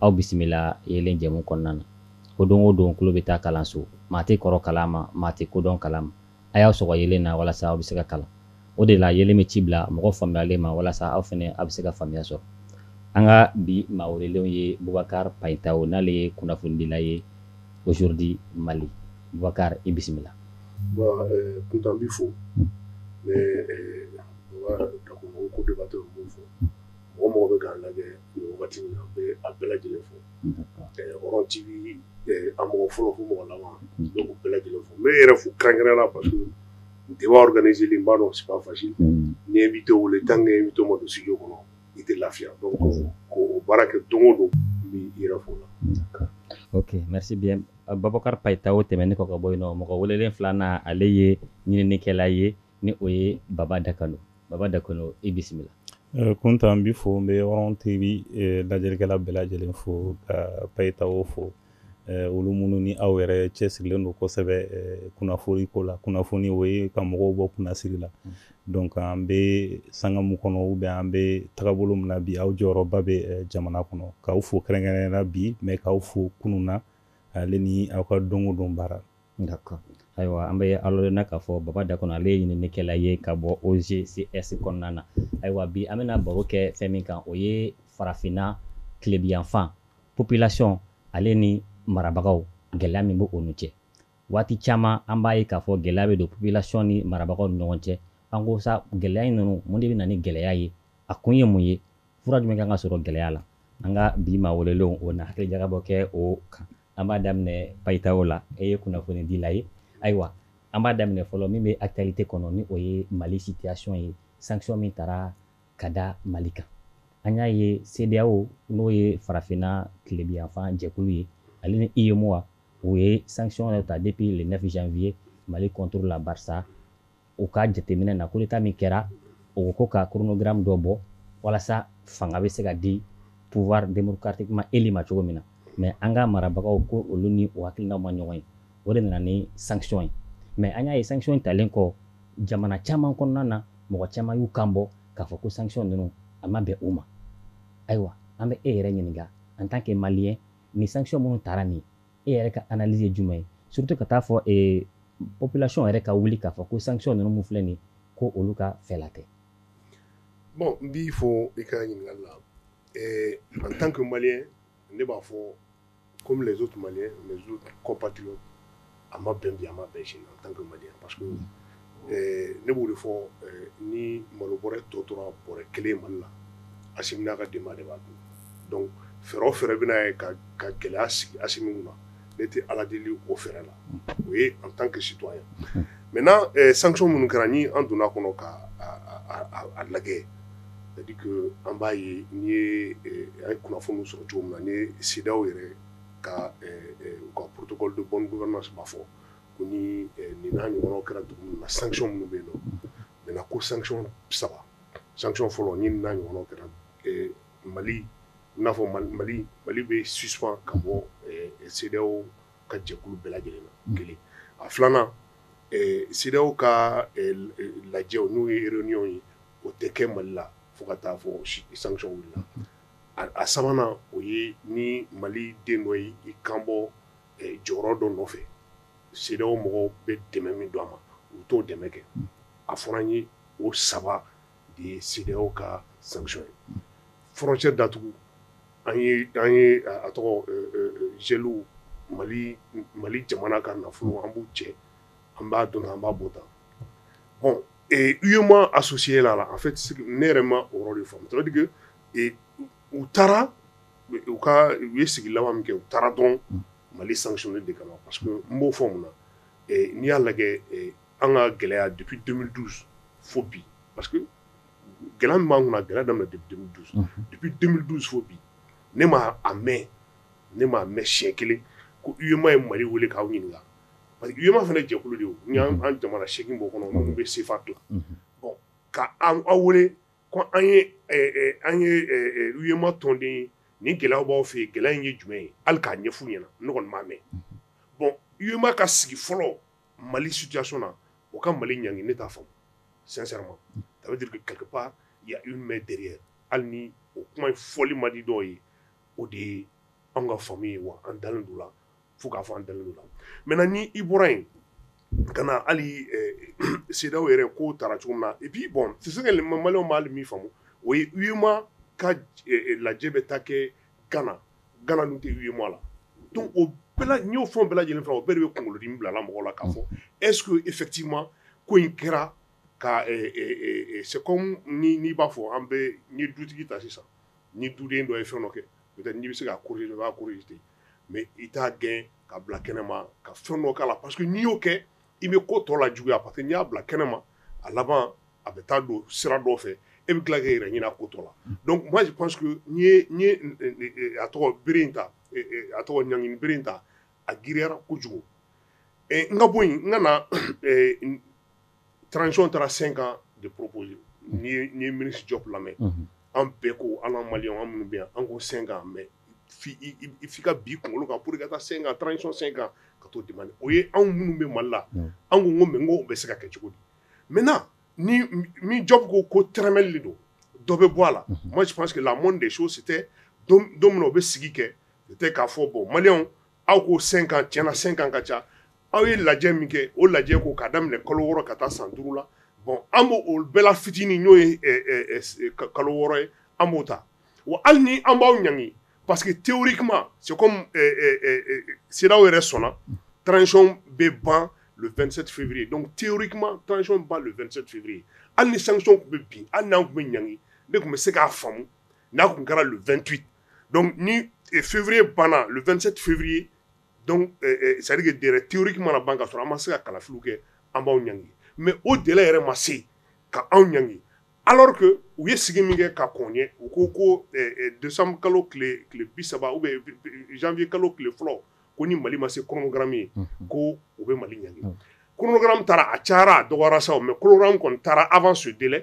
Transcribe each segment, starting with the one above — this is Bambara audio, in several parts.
aw bisimila yeelen jɛmu kɔnɔna na ko don o don tulo bɛ taa kalanso maa tɛ kɔrɔ kalan ma maa tɛ kodɔn kalan ma a y'aw sɔgɔ yeelen na walasa aw bɛ se ka kalan o de la yeelen bɛ ci bila mɔgɔ faamuyalen ma walasa aw fana aw bɛ se ka faamuya sɔrɔ an ka bi maa welelenw ye bubakari payitawo n'ale ye kunnafonidila ye Aujourd'hui mali bubakari i bisimila bon eh, kuntan b'i fo ne eh, baba dakono co-débatteur b'o fo mɔgɔ mɔgɔ bɛ k'an lajɛ nin wagati in na n bɛ a bɛɛ lajɛlen fo Hɔrɔn TV a mɔgɔ fɔlɔ fo mɔgɔ laban n bɛ u bɛɛ lajɛlen fo n bɛ i yɛrɛ fo kɛrɛnkɛrɛnnenya la parce que débat organisé li n b'a dɔn c'est pas facile n'i ye invité wele tant que invité ma don studio kɔnɔ i tɛ lafiya donc k'o baara kɛ don o don n b'i yɛrɛ fo o la. Ok merci bien Bubakari Payitaho tɛmɛnen kɔ ka bɔ yen nɔ mɔgɔ welelen filanan ale ye ɲininikɛla ye ni o ye baba dakono baba dakono i bisimila kuntan n b'i fo n bɛ Hɔrɔn TV lajɛlikɛla bɛɛ lajɛlen fo ka payitawo fo olu minnu ni aw yɛrɛ cɛsirilen don kosɛbɛ kunnafoni ko la kunnafoni o ye ka mɔgɔw bɔ kunnasiri la donc an bɛ sanga min kɔnɔ ou bien an bɛ tagabolo min na bi aw jɔyɔrɔba bɛ jamana kɔnɔ k'aw fo kɛrɛnkɛrɛnnenya la bi mais k'aw fo kunun na ale ni aw ka don o don baara D'accord ayiwa an bɛ aw ladɔnniya k'a fɔ baba dakono ale ye ɲininikɛla ye ka bɔ OGCS kɔnɔna na ayiwa bi an bɛna baro kɛ fɛn min kan o ye farafinna tilebiyanfan population ale ni marabagaw gɛlɛya min bɛ olu cɛ waati caman an b'a ye k'a fɔ gɛlɛya bɛ don population ni marabagaw ni ɲɔgɔn cɛ an ko sa gɛlɛya in ninnu mun de bɛ na ni gɛlɛya ye a kun ye mun ye fura jumɛn kan ka sɔrɔ gɛlɛya la an ka bi maa welelenw o na hakili jagabɔ kɛ o kan an b'a daminɛ payitawo la e ye kunnafonidila ye ayiwa an b'a daminɛ fɔlɔ min bɛ actualité kɔnɔ ni o ye Mali situation ye sanction min tara ka da Mali kan an y'a ye CEDEAO n'o ye farafinna tilebiyanfan jɛkulu ye ale ni UEMOA u ye sanction dɔ ta depuis le 9 janvier Mali contre la barisa u ka jateminɛ na coup d'état min kɛra o ko ka chronogramme dɔ bɔ walasa fanga bɛ se ka di pouvoir démocratiquement élu ma cogo min na mais an ka marabagaw ko olu ni o hakilinaw ma ɲɔgɔn ye o de nana ni sanction ye mais an y'a ye sanction in talen kɔ jamana caman kɔnɔna na mɔgɔ caman y'u kan bɔ k'a fɔ ko sanction ninnu a ma bɛn u ma ayiwa an bɛ e yɛrɛ ɲininka en tant que malien ni sanction minnu tara nin e yɛrɛ ka analyse ye jumɛn ye surtout ka t'a fɔ ee population yɛrɛ ka wuli k'a fɔ ko sanction ninnu min filɛ nin ko olu ka fɛla tɛ bon n b'i fo i ka ɲininkali la ee en tant que malien ne b'a fɔ comme les autres maliens mes autres compatriotes a ma bɛn bi a ma bɛn sini en tant que malien parce que ne b'o de fɔ ni malo bɔra tɔ tora bɔra kelen mali la a n'a ka de de b'a dun fɛ fɛ bɛna ye ka gɛlɛya sigi a min na ne tɛ ala deli o fɛ la o ye an tan ke situ ye mɛ n' san minnu kɛra ni an donna kɔnɔ ka a lajɛ an b'a ye n ye kunnafoni sɔrɔ cogo min na ni sidaw yɛrɛ ka ka porotu bɔn fɔ ko ni nin n'a ɲɔgɔnw kɛra dugu min na sanction minnu bɛ yen nɔ na ko sanction saba sanction fɔlɔ ni nin n'a ɲɔgɔnw kɛra Mali i n'a fɔ Mali Mali bɛ suspend ka bɔ CEDEAO ka jɛkulu bɛɛ lajɛlen na kelen a filanan CEDEAO ka lajɛ n'o ye réunion ye o tɛ kɛ Mali la fo ka taa fɔ sanction wulila a sabanan o ye ni Mali den dɔ y'i kanbɔ jɔyɔrɔ dɔ nɔfɛ CEDEAO mɔgɔw bɛ dɛmɛ min don a ma u t'o dɛmɛ kɛ a fɔra n ye o saba de ye CEDEAO ka sanction ye frontière datugu an ye a tɔgɔ geler mali mali jamana ka nafolo an b'u cɛ an b'a dɔn an b'a bɔ tan bon UEMOA associé la en fait ne yɛrɛ ma o yɔrɔ de faamu ça veut dire que u taara u ka u ye sigi laban min kɛ u taara dɔrɔn Mali sanctionner de kama parce que n b'o fɔ mun na ɛ n'i y'a lajɛ ɛ an ka gɛlɛya depuis 2012 fo bi parce que gɛlɛya min b'an kunna a gɛlɛya daminɛ depuis 2012 unhun depuis 2012 fo bi ne ma a mɛ ne m'a mɛ siɲɛ kelen ko UEMOA ye Mali wele k'aw ɲininka parce que UEMOA fana ye jɛkulu de ye o n y'an an jamana 8 b'o kɔnɔ minnu bɛ CFA dilan unhun bon ka an aw wele Ko an ye an ye UEMOA tɔnden ye ni gɛlɛya b'aw fɛ yen gɛlɛya in ye jumɛn ye hali k'a ɲɛf'u ɲɛna ne kɔni m'a mɛn bon UEMOA ka sigi fɔlɔ mali situation na u ka mali ɲangi ne t'a faamu sincèrement ça veut dire que quelque part il y a une main derrière hali ni o kuma in fɔli man di dɔw ye o de ye an ka faamuya ye wa an dalen d'o la fo k'a fɔ an da la mɛ ni i bɔra yen ka na hali sedaw yɛrɛ ko taara cogo min na i b'i bɔn si ka mamaw b'a min faamu o ye uma ka lajɛ bɛ ta kɛ gana gana tɛ yema la o y'o fɔ bɛɛ lajɛlen fɛ o bɛɛ de bɛ kunkolodi bilala mɔgɔ la ka fɔ esu e fɛti ma ko in kɛra ka se n'i b'a fɔ an bɛ dutigi ta sisan ni duden dɔ ye fɛn dɔ kɛ n bɛ se ka kori b'a kori ten mais i t'a gɛn ka bila kɛnɛma ka fɛn dɔ k'a la parce que n'i y'o kɛ i bɛ ko tɔ lajuguya parce que n'i y'a bila kɛnɛma a laban a bɛ taa don sira dɔ fɛ e bɛ tila k'e yɛrɛ ɲini a ko tɔ la donc moi je pense que n ye a tɔgɔ bere in ta a tɔgɔ ɲangini bere in ta a giriyara kojugu n ka bɔ yen n ka na transition taara cinq ans de proposer n'i ye n'i ye ministre Diop lamɛn. Unhun. An bɛɛ ko an ka maliyɛnw an minnu bɛ yan an ko cinq ans mais f'i i i i f'i ka bin i kunkolo kan pour que i ka taa cinq ans transition cinq ans ka t'o demander o ye anw minnu bɛ Mali la. Unhun. An ko n ko mais n ko o bɛ se ka kɛ cogo di? Maintenant ni m min Diop ko ko tɛrɛmɛli de don dɔ bɛ bɔ a la. Unhun. Moi je pense que la moindre des choses c'était don don min na u bɛ sigi kɛ c'était k'a fɔ bon maliyɛnw aw ko cinq ans tiɲɛ na cinq ans ka ca aw ye lajɛ min kɛ o lajɛ ko k'a daminɛ kalo wɔɔrɔ ka taa san duuru la bon an b'o o bɛɛ la fitinin n'o ye kalo wɔɔrɔ ye an b'o ta wa hali ni an b'aw ɲangi parce que théoriquement c'est comme CEDEAO yɛrɛ sɔnna transition bɛ ban le 27 février donc théoriquement transition ban le 27 février hali ni sanction tun bɛ bin hali n'an tun bɛ ɲangi ne tun bɛ se k'a faamu n'a tun kɛra le 28 dɔnkuc ni fifiuru banna fɛnsen fifiuru sariyari de teriki mana ban ka sɔrɔ an ma se ka kalafili kɛ an b'aw ɲ mɛ o deli yɛrɛ ma se ka anw ɲ ala u ye sigi min kɛ ka kɔn ye u ko ko donso kalo bi saba u bɛfi kalo tile fɔlɔ ko ni mali ma se kɔnɔnkara ye ko u bɛ mali ɲ kɔnɔnkura taara a ca a dɔgɔ sa mɛ kɔn taara a' su deli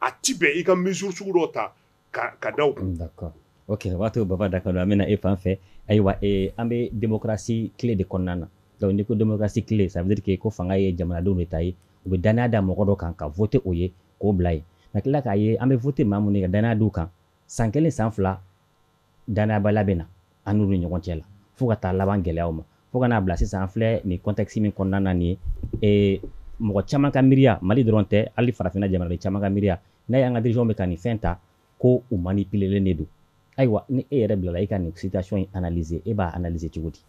a tɛ bɛn i ka mesure sugu dɔ ta ka ka da o kan. D'accord ok o b'a to Baba Dakono an bɛ na e fan fɛ ayiwa ee an bɛ démocratie tile de kɔnɔna na donc n'i ko démocratie tile ça veut dire que ko fanga ye jamanadenw de ta ye u bɛ dannaya da mɔgɔ dɔ kan ka voter o ye k'o bila yen ka tila k'a ye an bɛ voter maa minnu ye ka dannaya d'u kan san kelen san fila Dannayabaliya bɛ na an n'u ni ɲɔgɔn cɛ la fo ka taa laban gɛlɛyaw ma fo ka n'a bila sisan an filɛ nin contexte min kɔnɔna na nin ye mɔgɔ caman ka miiriya Mali dɔrɔn tɛ hali farafinna jamanaden caman ka miiriya n'a ye an ka dirigeants bɛ ka nin fɛn ta ko u manipulelen de don ayiwa ni e yɛrɛ bilala e ka nin situation in analyser e b'a analyser cogo di?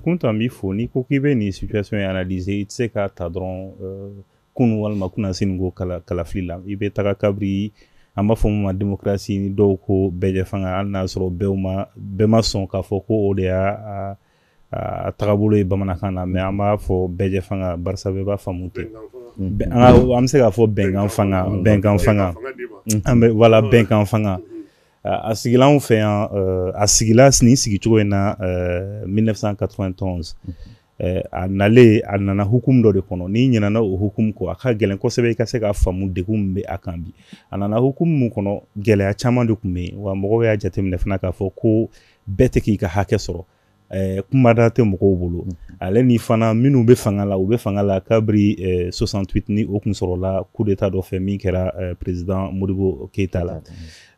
Kounta an b'i fo n'i ko k'i bɛ nin situation in analyser i tɛ se k'a ta dɔrɔn kunun walima kunasinin ko kala kalafili la i bɛ taga kabiri an b'a fɔ min ma démocratie ni dɔw ko bɛɛjɛfanga hali n'a sɔrɔ bɛɛ ma bɛɛ ma sɔn k'a fɔ ko o de y'a a tagabolo ye bamanankan na mais an b'a fɔ bɛɛjɛfanga barisa bɛɛ b'a faamu ten an bɛ se k'a fɔ bɛnkan fanga bɛnkan fanga an bɛ voilà bɛnkan fanga a sigila an fɛ yan a sigila nin sigicogo in na 1991 Eh, a nalen a nana hukumu dɔ de kɔnɔ n'i ɲinɛna o hukumu kɔ a ka gɛlɛn kosɛbɛ i ka se k'a faamu degun min bɛ a kan bi a nana hukumu min kɔnɔ gɛlɛya caman de tun bɛ yen wa mɔgɔw y'a jateminɛ fana k'a fɔ ko bɛɛ tɛ k'i ka hakɛ sɔrɔ eh, kumada tɛ mɔgɔw bolo ale ni fana minnu bɛ fanga la u bɛ fanga la kabiri 68 eh, ni o kun sɔrɔla coup d'État dɔ fɛ min kɛra président Modibo Keïta la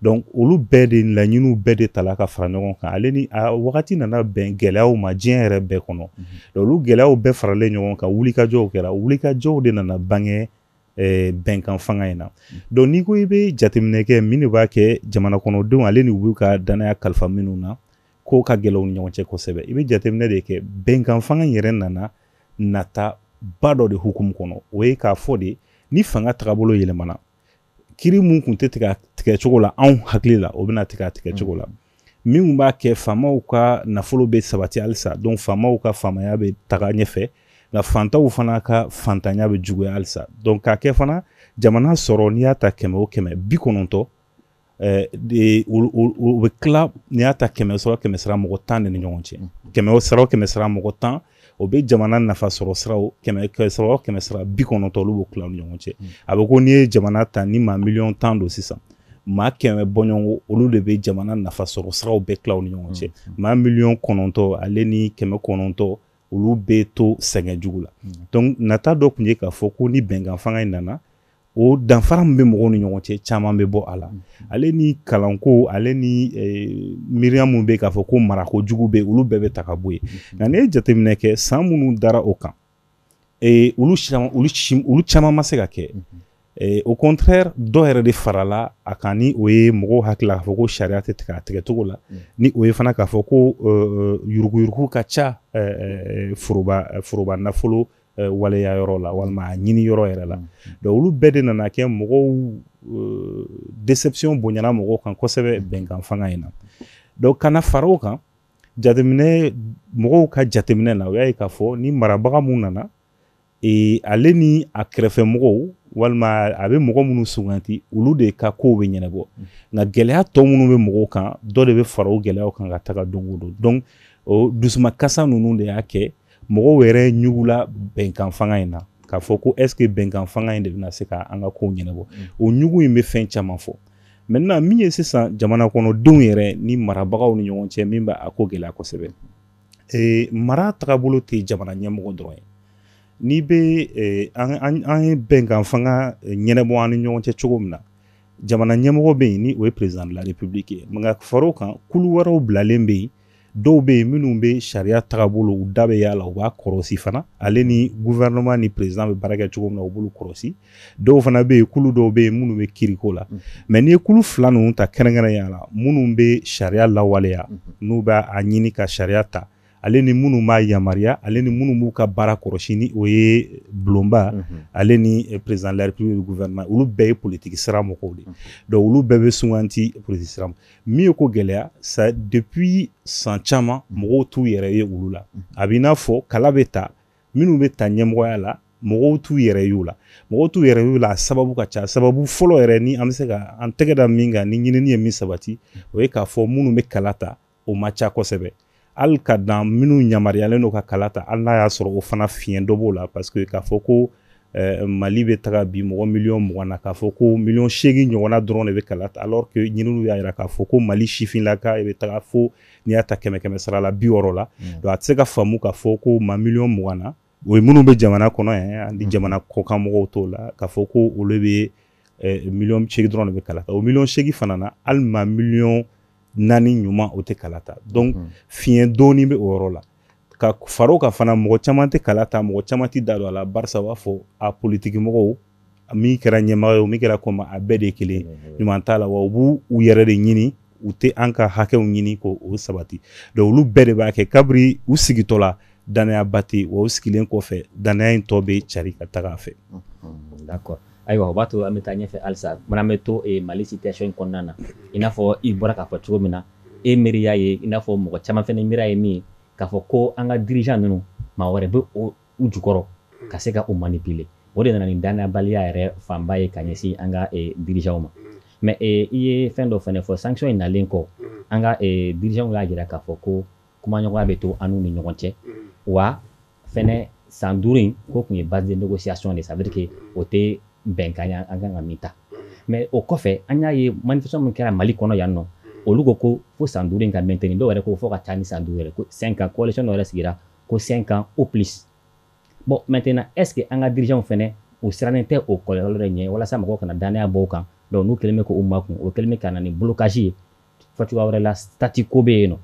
donc olu bɛɛ de laɲiniw bɛɛ de tala ka fara ɲɔgɔn kan ale ni a wagati nana bɛn gɛlɛyaw ma diɲɛ yɛrɛ bɛɛ kɔnɔ mhm. olu gɛlɛyaw bɛɛ faralen ɲɔgɔn kan wulikajɔw kɛra wulikajɔw de nana bange eh, bɛnkan fanga in na mhm. donc n'i ko i bɛ jateminɛ kɛ min de b'a kɛ jamana kɔnɔdenw ale ni u b'u ka dannaya kalifa minnu na ko ka gɛlɛn u ni ɲɔgɔn cɛ kosɛbɛ i bɛ jateminɛ de kɛ bɛnkan fanga in yɛrɛ nana nata ba dɔ de hukumu kɔnɔ o ye k'a fɔ de ni fanga tagabolo yɛlɛmana kiri mun kun tɛ tigɛ tigɛ cogo la anw hakili la o bɛna tigɛ a tigɛ cogo la mm. minnu b'a kɛ faamaw ka nafolo bɛ sabati halisa donc faamaw ka faamaya bɛ taga ɲɛfɛ nka fantaw fana ka fantanya bɛ juguya halisa donc k'a kɛ fana jamana sɔrɔ n'i y'a ta kɛmɛ o kɛmɛ bi kɔnɔntɔn Eh, o bɛ tila n'i y'a ta kɛmɛ sara kɛmɛ sara mɔgɔ tan de ni ɲɔgɔn cɛ kɛmɛ sara mɔgɔ tan o bɛ jamana nafa sɔrɔ siraw kɛmɛ sira bi kɔnɔntɔ olu b'o tila ni ɲɔgɔn cɛ mm. a bɛ ko n'i ye jamana ta ni maa miliyɔn tan don sisan maa kɛmɛ bɔɲɔgɔnko olu de bɛ jamana nafa sɔrɔ siraw bɛɛ tila ni ɲɔgɔn cɛ mm. maa miliyɔn kɔnɔntɔ ale ni kɛmɛ kɔnɔntɔ olu bɛ to sɛgɛn jugu la mm. donc nata dɔ tun ye k'a fɔ ko ni bɛnkan fanga in nana o danfara min bɛ mɔgɔw ni ɲɔgɔn cɛ caman bɛ bɔ a la ale ni kalanko ale ni eh, miiriya minnu bɛ k'a fɔ ko marako jugu bɛ olu bɛɛ bɛ ta ka bɔ yen nka n'i ye jateminɛ kɛ san minnu dara o kan eh, olu olu caman ma se ka kɛ eh, au contraire dɔ yɛrɛ de farala a kan ni o ye mɔgɔw hakili la k'a fɔ ko sariya tɛ tigɛ a tigɛcogo la ni o ye fana k'a fɔ ko yuruguyurugu ka ca foroba foroba nafolo eh, waleya yɔrɔ la walima a ɲini yɔrɔ yɛrɛ la donc olu bɛɛ de nana kɛ mɔgɔw eh, déception bonyana mɔgɔw kan kosɛbɛ bɛnkan fanga in na donc ka na fara o kan jateminɛ mɔgɔw ka jateminɛ na u y'a ye k'a fɔ ni marabaga mun nana e, ale ni a kɛrɛfɛ mɔgɔw walima a bɛ mɔgɔ minnu suganti olu de ka kow bɛ ɲɛnabɔ nka gɛlɛya tɔ minnu bɛ mɔgɔw kan dɔ de bɛ fara o gɛlɛyaw kan ka taga don o don donc o dusumakasi ninnu de y'a kɛ mɔgɔw yɛrɛ ɲugula bɛnkan fanga in na k'a fɔ ko est ce que bɛnkan fanga in de bɛna se ka an ka kow ɲɛnabɔ mm. o ɲugu in bɛ fɛn caman fɔ maintenant min ye sisan jamana kɔnɔdenw yɛrɛ ni marabagaw ni ɲɔgɔn cɛ min bɛ a ko gɛlɛya kosɛbɛ e, mara tagabolo tɛ jamana ɲɛmɔgɔ dɔrɔn ye n'i bɛ e, an ye bɛnkan fanga e, ɲɛnabɔ an ni ɲɔgɔn cɛ cogo min na jamana ɲɛmɔgɔ bɛ yen ni o ye président de la république ye nka far'o kan kulu wɛrɛw bilalen bɛ yen dɔw bɛ yen minnu bɛ sariya tagabolo u da bɛ y'a la u b'a kɔrɔsi fana ale ni gouvernement ni président bɛ baara kɛ cogo min na u b'olu kɔrɔsi dɔw fana bɛ yen kulu dɔw bɛ yen minnu bɛ kiriko la mm-hmm. mais n'i ye kulu fila ninnu ta kɛrɛnkɛrɛnnenya la minnu bɛ sariya lawaleya mm-hmm. n'u bɛ a ɲini ka sariya ta ale ni minnu b'a yamaruya ale ni minnu b'u ka baara kɔrɔsi ni o ye bulonba mm-hmm. ale ni eh, président de la république gouvernement olu bɛɛ ye politiki sira mɔgɔw de donc olu bɛɛ bɛ suganti politiki sira min ye ko gɛlɛya sa depuis san caman mɔgɔw t'u yɛrɛ ye olu la a b'i n'a fɔ kala bɛ ta minnu bɛ ta ɲɛmɔgɔya la mɔgɔw t'u yɛrɛ y'u la mɔgɔw t'u yɛrɛ y'u la a sababu ka ca sababu fɔlɔ yɛrɛ ni an bɛ se ka an tɛgɛ da min kan ni ɲinini ye min sabati o ye k'a fɔ minnu bɛ kala ta o ma ca kosɛbɛ hali ka dan minnu yamaruyalen don ka kala ta hali n'a y'a sɔrɔ o fana fiɲɛ dɔ b'o la parce que k'a fɔ ko eh, mali bɛ taga bi mɔgɔ miliyɔn mugan na k'a fɔ ko miliyɔn seegin ɲɔgɔnna dɔrɔn de bɛ kala ta alors que ɲininiw y'a jira k'a fɔ ko mali sifinlaka bɛ taga fo n'i y'a ta kɛmɛ kɛmɛ sara la bi wɔɔrɔ la mm. donc a tɛ se ka faamu k'a fɔ ko maa miliyɔn mugan na o ye minnu bɛ jamana kɔnɔ yan ani jamana kɔkan mɔgɔw t'o la k'a fɔ ko olu bɛ eh, miliyɔn seegin dɔrɔn de bɛ kala ta o miliyɔn seegin fana na hali maa miliyɔn naani ɲuman o tɛ kala ta donc mhm. fiɲɛ dɔɔni bɛ o yɔrɔ la ka far'o kan fana mɔgɔ caman tɛ kala ta mɔgɔ caman tɛ da don a la barisa u b'a fɔ a politiki mɔgɔw min kɛra ɲɛmɔgɔ ye o min kɛra kɔmaa a bɛɛ de kelen ɲuman t'a la wa u b'u yɛrɛ de ɲini u tɛ an ka hakɛw ɲini k'o sabati donc olu bɛɛ de b'a kɛ kabiri u sigitɔ la dannayaba tɛ wa u sigilen kɔfɛ dannaya in tɔ bɛ cari ka taga a fɛ ayiwa o b'a to an bɛ taa ɲɛfɛ halisa mais an bɛ to mali situation kɔnɔna na i n'a fɔ i bɔra k'a fɔ cogo min na e miiriya ye i n'a fɔ mɔgɔ caman fana miiriya ye min ye k'a fɔ ko an ka dirigeant ninnu maa wɛrɛ bɛ o u jukɔrɔ ka se ka u manipuler o de nana ni dannayabaliya yɛrɛ fanba ye ka ɲɛsin an ka dirigeantw ma mais i ye fɛn dɔ fana fɔ sanction in nalen kɔ an ka dirigeantw y'a jira k'a fɔ ko kumaɲɔgɔnya bɛ to an ni ɲɔgɔn cɛ wa fɛnɛ san duuru in ko tun ye base de négociation de ça veut dire que o tɛ bɛnkan ye an kan ka min ta mais o kɔfɛ an y'a ye manifestation min kɛra mali kɔnɔ yan nɔ olu ko ko fo san duuru in ka maintenir dɔw yɛrɛ ko fo ka taa ni san duuru yɛrɛ ko cinq ans coalition yɛrɛ sigira ko cinq ans ou plus bon maintenant est-ce que an ka dirigeantw fɛnɛ u sirannen tɛ o kɔlɔlɔ de ɲɛ walasa mɔgɔw kana dannaya bɔ u kan donc n'u kɛlen bɛ k'u makun o kɛlen bɛ ka na ni blocage ye fɔ cogoya wɛrɛ la statu quo bɛ yen nɔ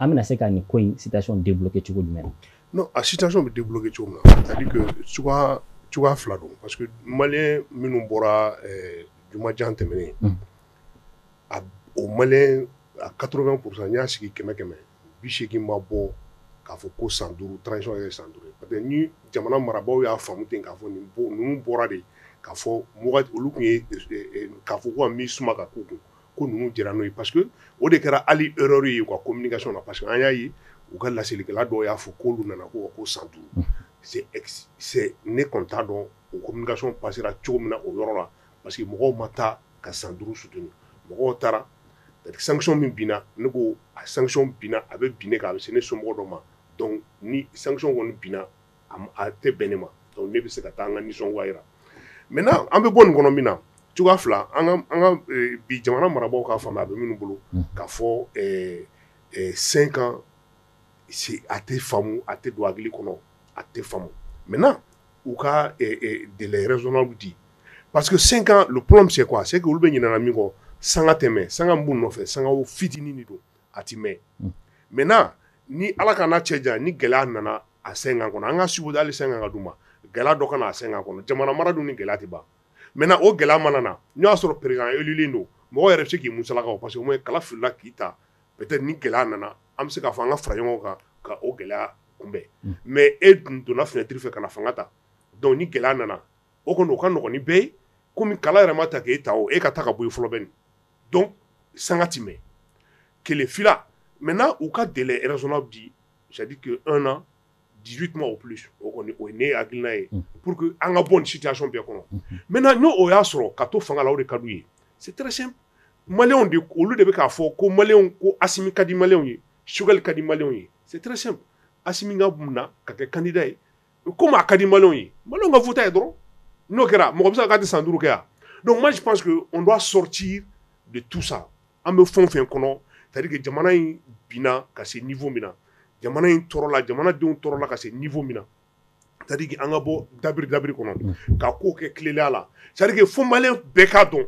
an bɛna se ka nin ko in situation débloquer cogo jumɛn na non a situation bɛ débloquer cogo min na c'est-à-dire que cogoya fila don parce que malien minnu bɔra jumajan tɛmɛnen a o malien a quatre-vingts pour cent n'i y'a sigi kɛmɛ kɛmɛ bi seegin ma bɔ k'a fɔ ko san duuru transition ye san duuru parce que ni jamana marabagaw y'a faamu ten k'a fɔ nin ninnu bɔra de k'a fɔ olu tun ye k'a fɔ ko ka min suma ka k'u kun ko ninnu jɛra n'o ye parce que o de kɛra hali erreur ye u ka communication na parce que an y'a ye u ka laselikɛla dɔw y'a fɔ k'olu nana ko ko san duuru ne kɔni t'a dɔn o communication passera cogo min na o yɔrɔ la parce que mɔgɔw ma taa ka san duuru soutenir mɔgɔw taara sanction min binna ne ko a sanction binna a bɛ bin ne kan a bɛ se ne somɔgɔ dɔ ma donc ni sanction kɔni binna a tɛ bɛn ne ma donc ne bɛ se ka taa an ka nisɔngoya jira maintenant an bɛ bɔ nin kɔnɔ min na cogoya fila an ka bi jamana marabagaw k'a faamuya a bɛ minnu bolo k'a fɔ cinq ans a tɛ faamumu a tɛ don a kɔnɔ a tɛ faamu mɛ u ka dezw di pa que senkan p min se a se olu bɛ ɲin min kɔ san tɛmɛ san minnu nɔfɛ san fitinin de don a tɛ mɛ mɛ ni ala ka cɛ jan ni gɛlɛya nana a senkan kɔnɔ an ka suguda ali sen ka d ma gɛlɛya dɔ kana a sen kɔnɔ jamana mara dun ni gɛlɛya ban mɛ o gɛlɛya mana na n y'a sɔrɔ perekaneli don mɔgɔ yɛrɛ se k'i musalakaw parce que kala filila k'i ta peut être ni gɛlɛya nana an bɛ se k'a fɔ an ka fara ɲɔgɔn kan ka o gɛlɛya kunbɛn mais e dun donna fenêtre fɛ ka na fanga ta donc ni gɛlɛya nana o kɔni o ka nɔgɔn ni bɛɛ ye komi kala yɛrɛ ma ta k'e ta o e ka taa ka bɔ yen fɔlɔ bɛ nin donc sanga tɛ mɛn kelen fila maintenant u ka délai raisonnable di c'est à dire que un an di kuma o o ne ye hakiliina ye pur que an ka bɔ sida sɔn bɛɛ kɔnɔ mɛ na n'o y'a sɔrɔ ka to fanga o de ka ye si maw de olu de bɛ k'a fɔ ko ma ko a ka di maw ye sukali ka di ma ye si a min ka mun na ka kɛ kandida ye ko maa ka di ma ye ma ka futa ye dɔrɔn n'o kɛra mɔgɔ bɛ se ka di san duuruuru kɛ yan don masi pa que n' sɔrɔ ci de tusa An bɛ fɛn o fɛn kɔnɔ c'est à dire que jamana in binna ka se niveau min na, jamana in tɔɔrɔla, jamana denw tɔɔrɔla ka se niveau min na c'est à dire que an ka bɔ dabiri dabiri kɔnɔ ka kow kɛ tilennenya la c'est à dire que fo maliyɛn bɛɛ k'a dɔn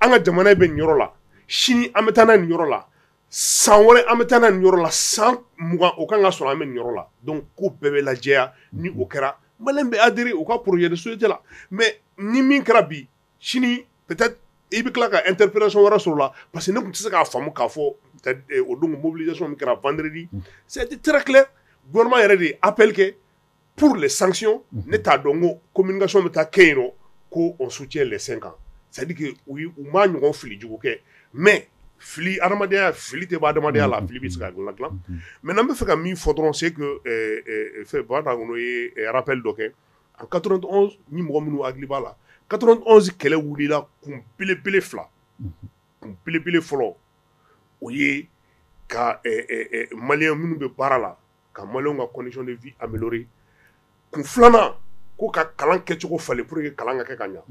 an ka jamana in bɛ nin yɔrɔ la, sini an bɛ taa n'a ye nin yɔrɔ la, san wɛrɛ an bɛ taa n'a ye nin yɔrɔ la, san mugan o ka kan k'a sɔrɔ an bɛ nin yɔrɔ la donc ko bɛɛ bɛ lajɛya ni o kɛra maliyɛn bɛ adhérer u ka projet de société la mais ni min kɛra bi sini peut être i bɛ tila ka interprétation wɛrɛ sɔrɔ o la parce que ne tun tɛ se k'a faamu k'a fɔ o don mobilisation min kɛra vendredi ça a été très clair gouvernement yɛrɛ de ye appel kɛ pour les sanctions ne t'a dɔn ko communication bɛ taa kɛ yen nɔ ko on soutient les 5 ans c'est à dire que u ye u m'a ɲɔgɔn fili jugu kɛ mais fili adamadenya fili tɛ bɔ adamadenya la fili bɛ se ka dilan maintenant n bɛ fɛ ka min fɔ dɔrɔn c'est que fɛn Baba Dakono ye rappel dɔ kɛ en quatre-vingt-onze ni mɔgɔ minnu hakili b'a la quatre-vingt-onze kɛlɛ wulila kun belebele fila kun belebele fɔlɔ o ye ka maliyɛn minnu bɛ baara la ka maliyɛnw ka condition de vie améliorer kun filanan ko ka kalan kɛcogo falen pour que kalan ka kɛ ka ɲa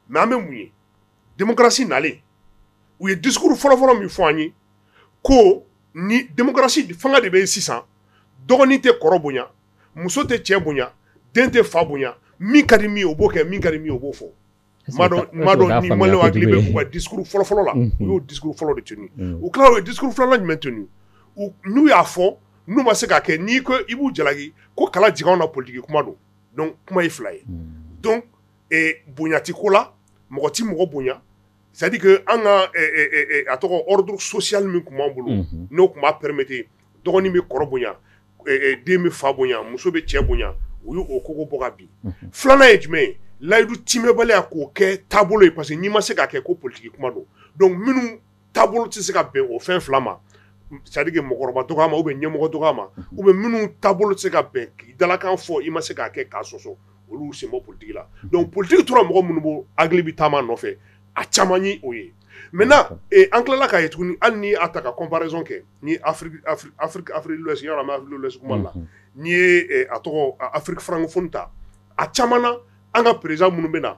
mais an bɛ mun ye démocratie nalen u ye discours fɔlɔfɔlɔ min fɔ an ye ko ni démocratie fanga de bɛ yen sisan dɔgɔnin tɛ kɔrɔ bonya muso tɛ cɛ bonya den tɛ fa bonya min ka di min ye o b'o kɛ min ka di min ye o b'o fɔ donc ni maliyɛnw hakili b'u ka discours fɔlɔfɔlɔ la u y'o discours fɔlɔ de tenu u tilala u ye discours filanan jumɛn tenu n'u y'a fɔ n'u ma se k'a kɛ n'i ko i b'u jalaki ko kala jigin anw na politique kuma don donc kuma ye fila ye bonya ti ko la mɔgɔ tɛ mɔgɔ bonya c'est à dire que an ka a tɔgɔ ordre social min tun b'an bolo n'o tun b'a permettre dɔgɔnin bɛ kɔrɔ bonya den bɛ fa bonya muso bɛ cɛ bonya u y'o kogo bɔ ka bin filanan ye jumɛn ye layidu timɛbaliya k'o kɛ taabolo ye parce que n'i ma se k'a kɛ ko politique kuma don donc minnu taabolo tɛ se ka bɛn o fɛn fila ma c'est à dire que mɔgɔkɔrɔba dɔgɔya ma ou bien ɲɛmɔgɔ dɔgɔya ma ou bien minnu taabolo tɛ se ka bɛn k'i dalakan fɔ i ma se k'a kɛ k'a sɔsɔ olu y'u sen bɔ politique la donc politique tora mɔgɔ minnu bolo hakili bɛ taama nɔfɛ a caman ye o ye maintenant eh, an tilala k'a ye tuguni hali n'i y'a ta ka comparaison kɛ ni Afrique de l'Ouest yɔrɔ an bɛ Afrique de l'Ouest kuma la n'i ye eh, a tɔgɔ a- Afrique francophone ta a caman na an ka président minnu bɛ na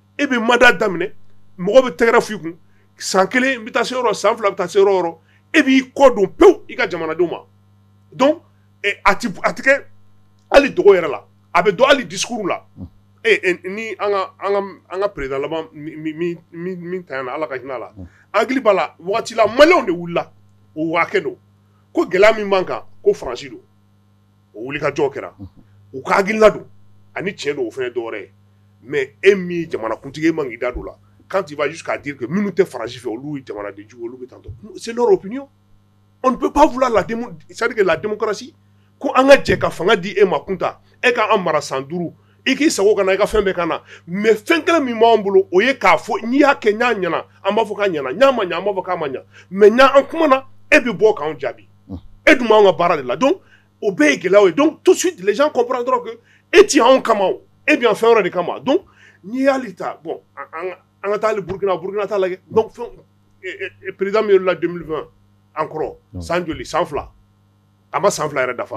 e bɛ mandat daminɛ mɔgɔ bɛ tɛgɛrɛ f'i kun san kelen bɛ taa se yɔrɔ san fila bɛ taa se yɔrɔ e b'i kɔ don pewu i ka jamanadenw ma donc a tɛ kɛ hali dogo yɛrɛ la a bɛ dɔn hali discours la ni an ka président laban min ta yan ala ka hinɛ a la an hakili b'a la waati la maliyɛnw de wulila o waa don ko gɛlɛya min b'an kan ko faransi don o wuli ka jɔ kɛra u ka gla don ani cɛ don o fana dɔwɛrɛ ye mɛ e min jamanakuntigi e man k'i da don la kan t' b'a k'a di kɛ minnu tɛ farasi fɛ olu jamana di jugu olu bɛ taa sen tun bɛ ba fila ladi sarike lamusi ko an ka jɛ ka fanga di e ma kun ta e k'an mara san duuru i k'i sago k'an na i ka fɛn bɛɛ k'an na mais fɛn kelen min b'an bolo o ye k'a fɔ n'i y'a kɛ n'a ɲɛna an b'a fɔ k'a ɲɛna n'a ma ɲa an b'a fɔ k'a ma ɲa mais ni an kumana e bɛ bɔ k'an jaabi e dun b'an ka baara de la donc o bɛɛ ye gɛlɛyaw ye donc tout de suite les gens comprendront que e ti anw kama e bɛ yan fɛn wɛrɛ de kama donc n'i y'ale ta bon an ka taa hali burukina burukina ta lajɛ donc président min yɛlɛla deux mille vingt encore san joli san fila a ma san fila yɛrɛ dafa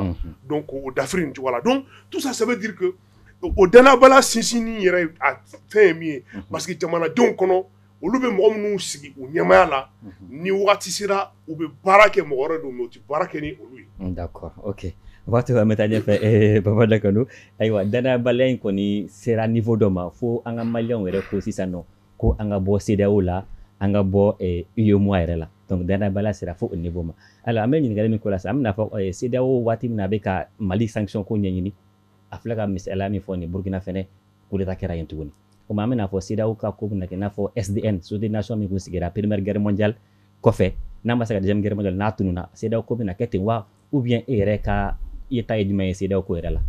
donc o dafiri nin cogo la donc tout ça ça veut dire que o danayabaliya sinsinnin yɛrɛ a fɛn ye min ye parce que jamanadenw kɔnɔ olu bɛ mɔgɔ minnu sigi u ɲɛmaya la ni waati sera u bɛ baara kɛ mɔgɔ wɛrɛ don u tɛ baara kɛ ni olu ye d'accord ok waati an bɛ taa ɲɛfɛ Baba Dakono ayiwa danayabaliya in kɔni sera niveau dɔ ma fo an ka maliyɛnw yɛrɛ ko sisan nɔ ko an ka bɔ CEDEAO la an ka bɔ UEMOA yɛrɛ la donc danayabaliya sera fo o niveau ma alors an bɛ ɲininkali min k'o la sisan an bɛna fɔ CEDEAO waati min na a bɛ ka Mali sanction ko ɲɛɲini a filɛ ka misaliya min fɔ nin Burkina fɛnɛ coup d'état kɛra yen tuguni o ma an bɛna fɔ CEDEAO ka ko bɛna kɛ i n'a fɔ SDN Société des Nations min tun sigira première guerre mondiale kɔfɛ n'a ma se ka deuxième guerre mondiale n'a tununa CEDEAO ko bɛna kɛ ten wa ou bien e yɛrɛ ka yeta ye jumɛn ye CEDEAO ko yɛrɛ la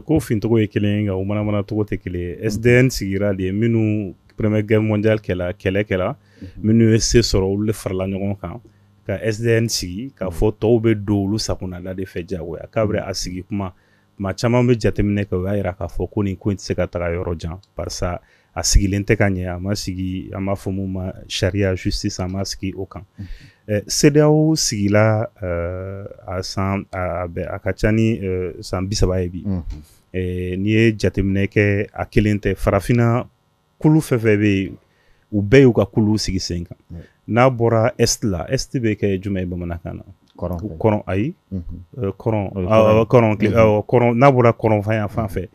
ko fincogo ye kelen nka u manamana cogo tɛ kelen SDN sigira di minnu première guerre mondiale kɛla kɛlɛ kɛla minnu ye se sɔrɔ olu de farala ɲɔgɔn kan ka SDN sigi k'a fɔ tɔw bɛ don olu sagonada de fɛ jagoya k'a bɛ a sigi kuma tuma caman bɛ jateminɛ kɛ o y'a yira k'a fɔ ko nin ko in tɛ se ka taga yɔrɔ jan barisa a sigilen tɛ ka ɲɛ a ma sigi an b'a fɔ mun ma sariya justice a ma sigi o kan CEDEAO sigila a san a ka ca ni san bi saba ye bi n'i ye jateminɛ kɛ a kelen tɛ farafinna kulu fɛn fɛn bɛ yen u bɛɛ y'u ka kulu sigi sen kan n'a bɔra est la est bɛ kɛ jumɛn ye bamanankan na kɔrɔn ayi kɔrɔn n'a bɔra kɔrɔnfan yan fan fɛ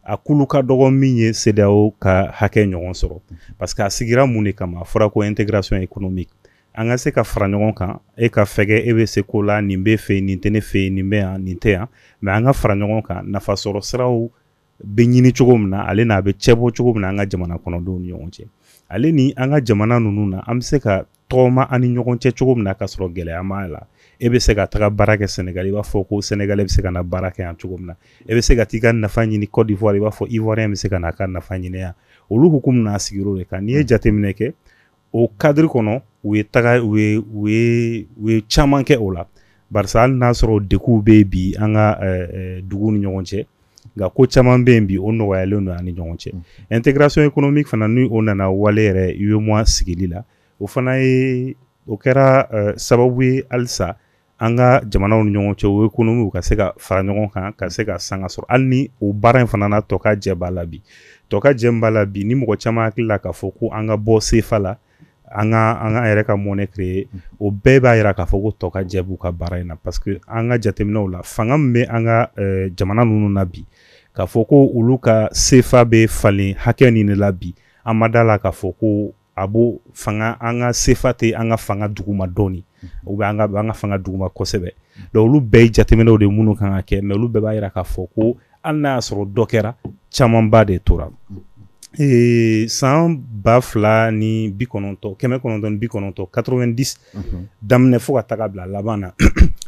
a kulu ka dɔgɔ min ye CEDEAO ka hakɛ ɲɔgɔn sɔrɔ parce que a sigira mun de kama a fɔra ko intégration économique an ka se ka fara ɲɔgɔn kan e ka fɛgɛ e bɛ se ko la nin b'e fɛ nin tɛ ne fɛ nin bɛ yan nin tɛ yan mais an ka fara ɲɔgɔn kan nafa sɔrɔ siraw bɛ ɲini cogo min na ale n'a bɛ cɛ bɔ cogo min na an ka jamana kɔnɔdenw ni ɲɔgɔn cɛ ale ni an ka jamana ninnu na an bɛ se ka tɔgɔma an ni ɲɔgɔn cɛ cogo min na ka sɔrɔ gɛlɛya ma la e bɛ se ka taga baara kɛ sɛnɛgali i b'a fɔ ko Sénégalais bɛ se ka na baara kɛ yan cogo min na e bɛ se ka taa i ka nafa ɲini Côte d'Ivoire i b'a fɔ Ivoirien bɛ se ka na a ka nafa ɲini yan olu hukumu na a sigira o de kan n'i ye jateminɛ kɛ o cadre kɔnɔ u ye taga u ye caman kɛ o la barisa hali n'a sɔrɔ degunw bɛ yen bi an ka duguw ni ɲɔgɔn cɛ nka ko caman bɛ yen bi o nɔgɔyalen don an ni ɲɔgɔn cɛ intégration économique fana n' o nana wale yɛrɛ UEMOA sigili la o fana ye o kɛra sababu ye halisa an ka jamanaw ni ɲɔgɔn cɛ o économie ka se ka fara ɲɔgɔn kan ka se ka sanga sɔrɔ hali ni o baara in fana na tɔkajɛ b'a la bi tɔkajɛ min b'a la bi ni mɔgɔ caman hakili la k'a fɔ ko an ka bɔ sefa la an ka an ka yɛrɛ ka monnaie créer o bɛɛ b'a yira k'a fɔ ko tɔkajɛ b'u ka baara in na parce que an ka jateminɛw la fanga min bɛ an ka euh, jamana ninnu na bi k'a fɔ ko olu ka sefa bɛ falen hakɛ nin de la bi an ma da la k'a fɔ ko a b'o fanga an ka sefa tɛ an ka fanga duguma dɔɔni ou bien an ka fanga duguma kosɛbɛ donc olu bɛɛ ye jateminɛw de minnu kan ka kɛ mais olu bɛɛ b'a jira k'a fɔ ko hali n'a y'a sɔrɔ dɔ kɛra camanba de tora ee san ba fila ni bi kɔnɔntɔn kɛmɛ kɔnɔntɔn ni bi kɔnɔntɔn 90 daminɛ fo ka taga bila laban na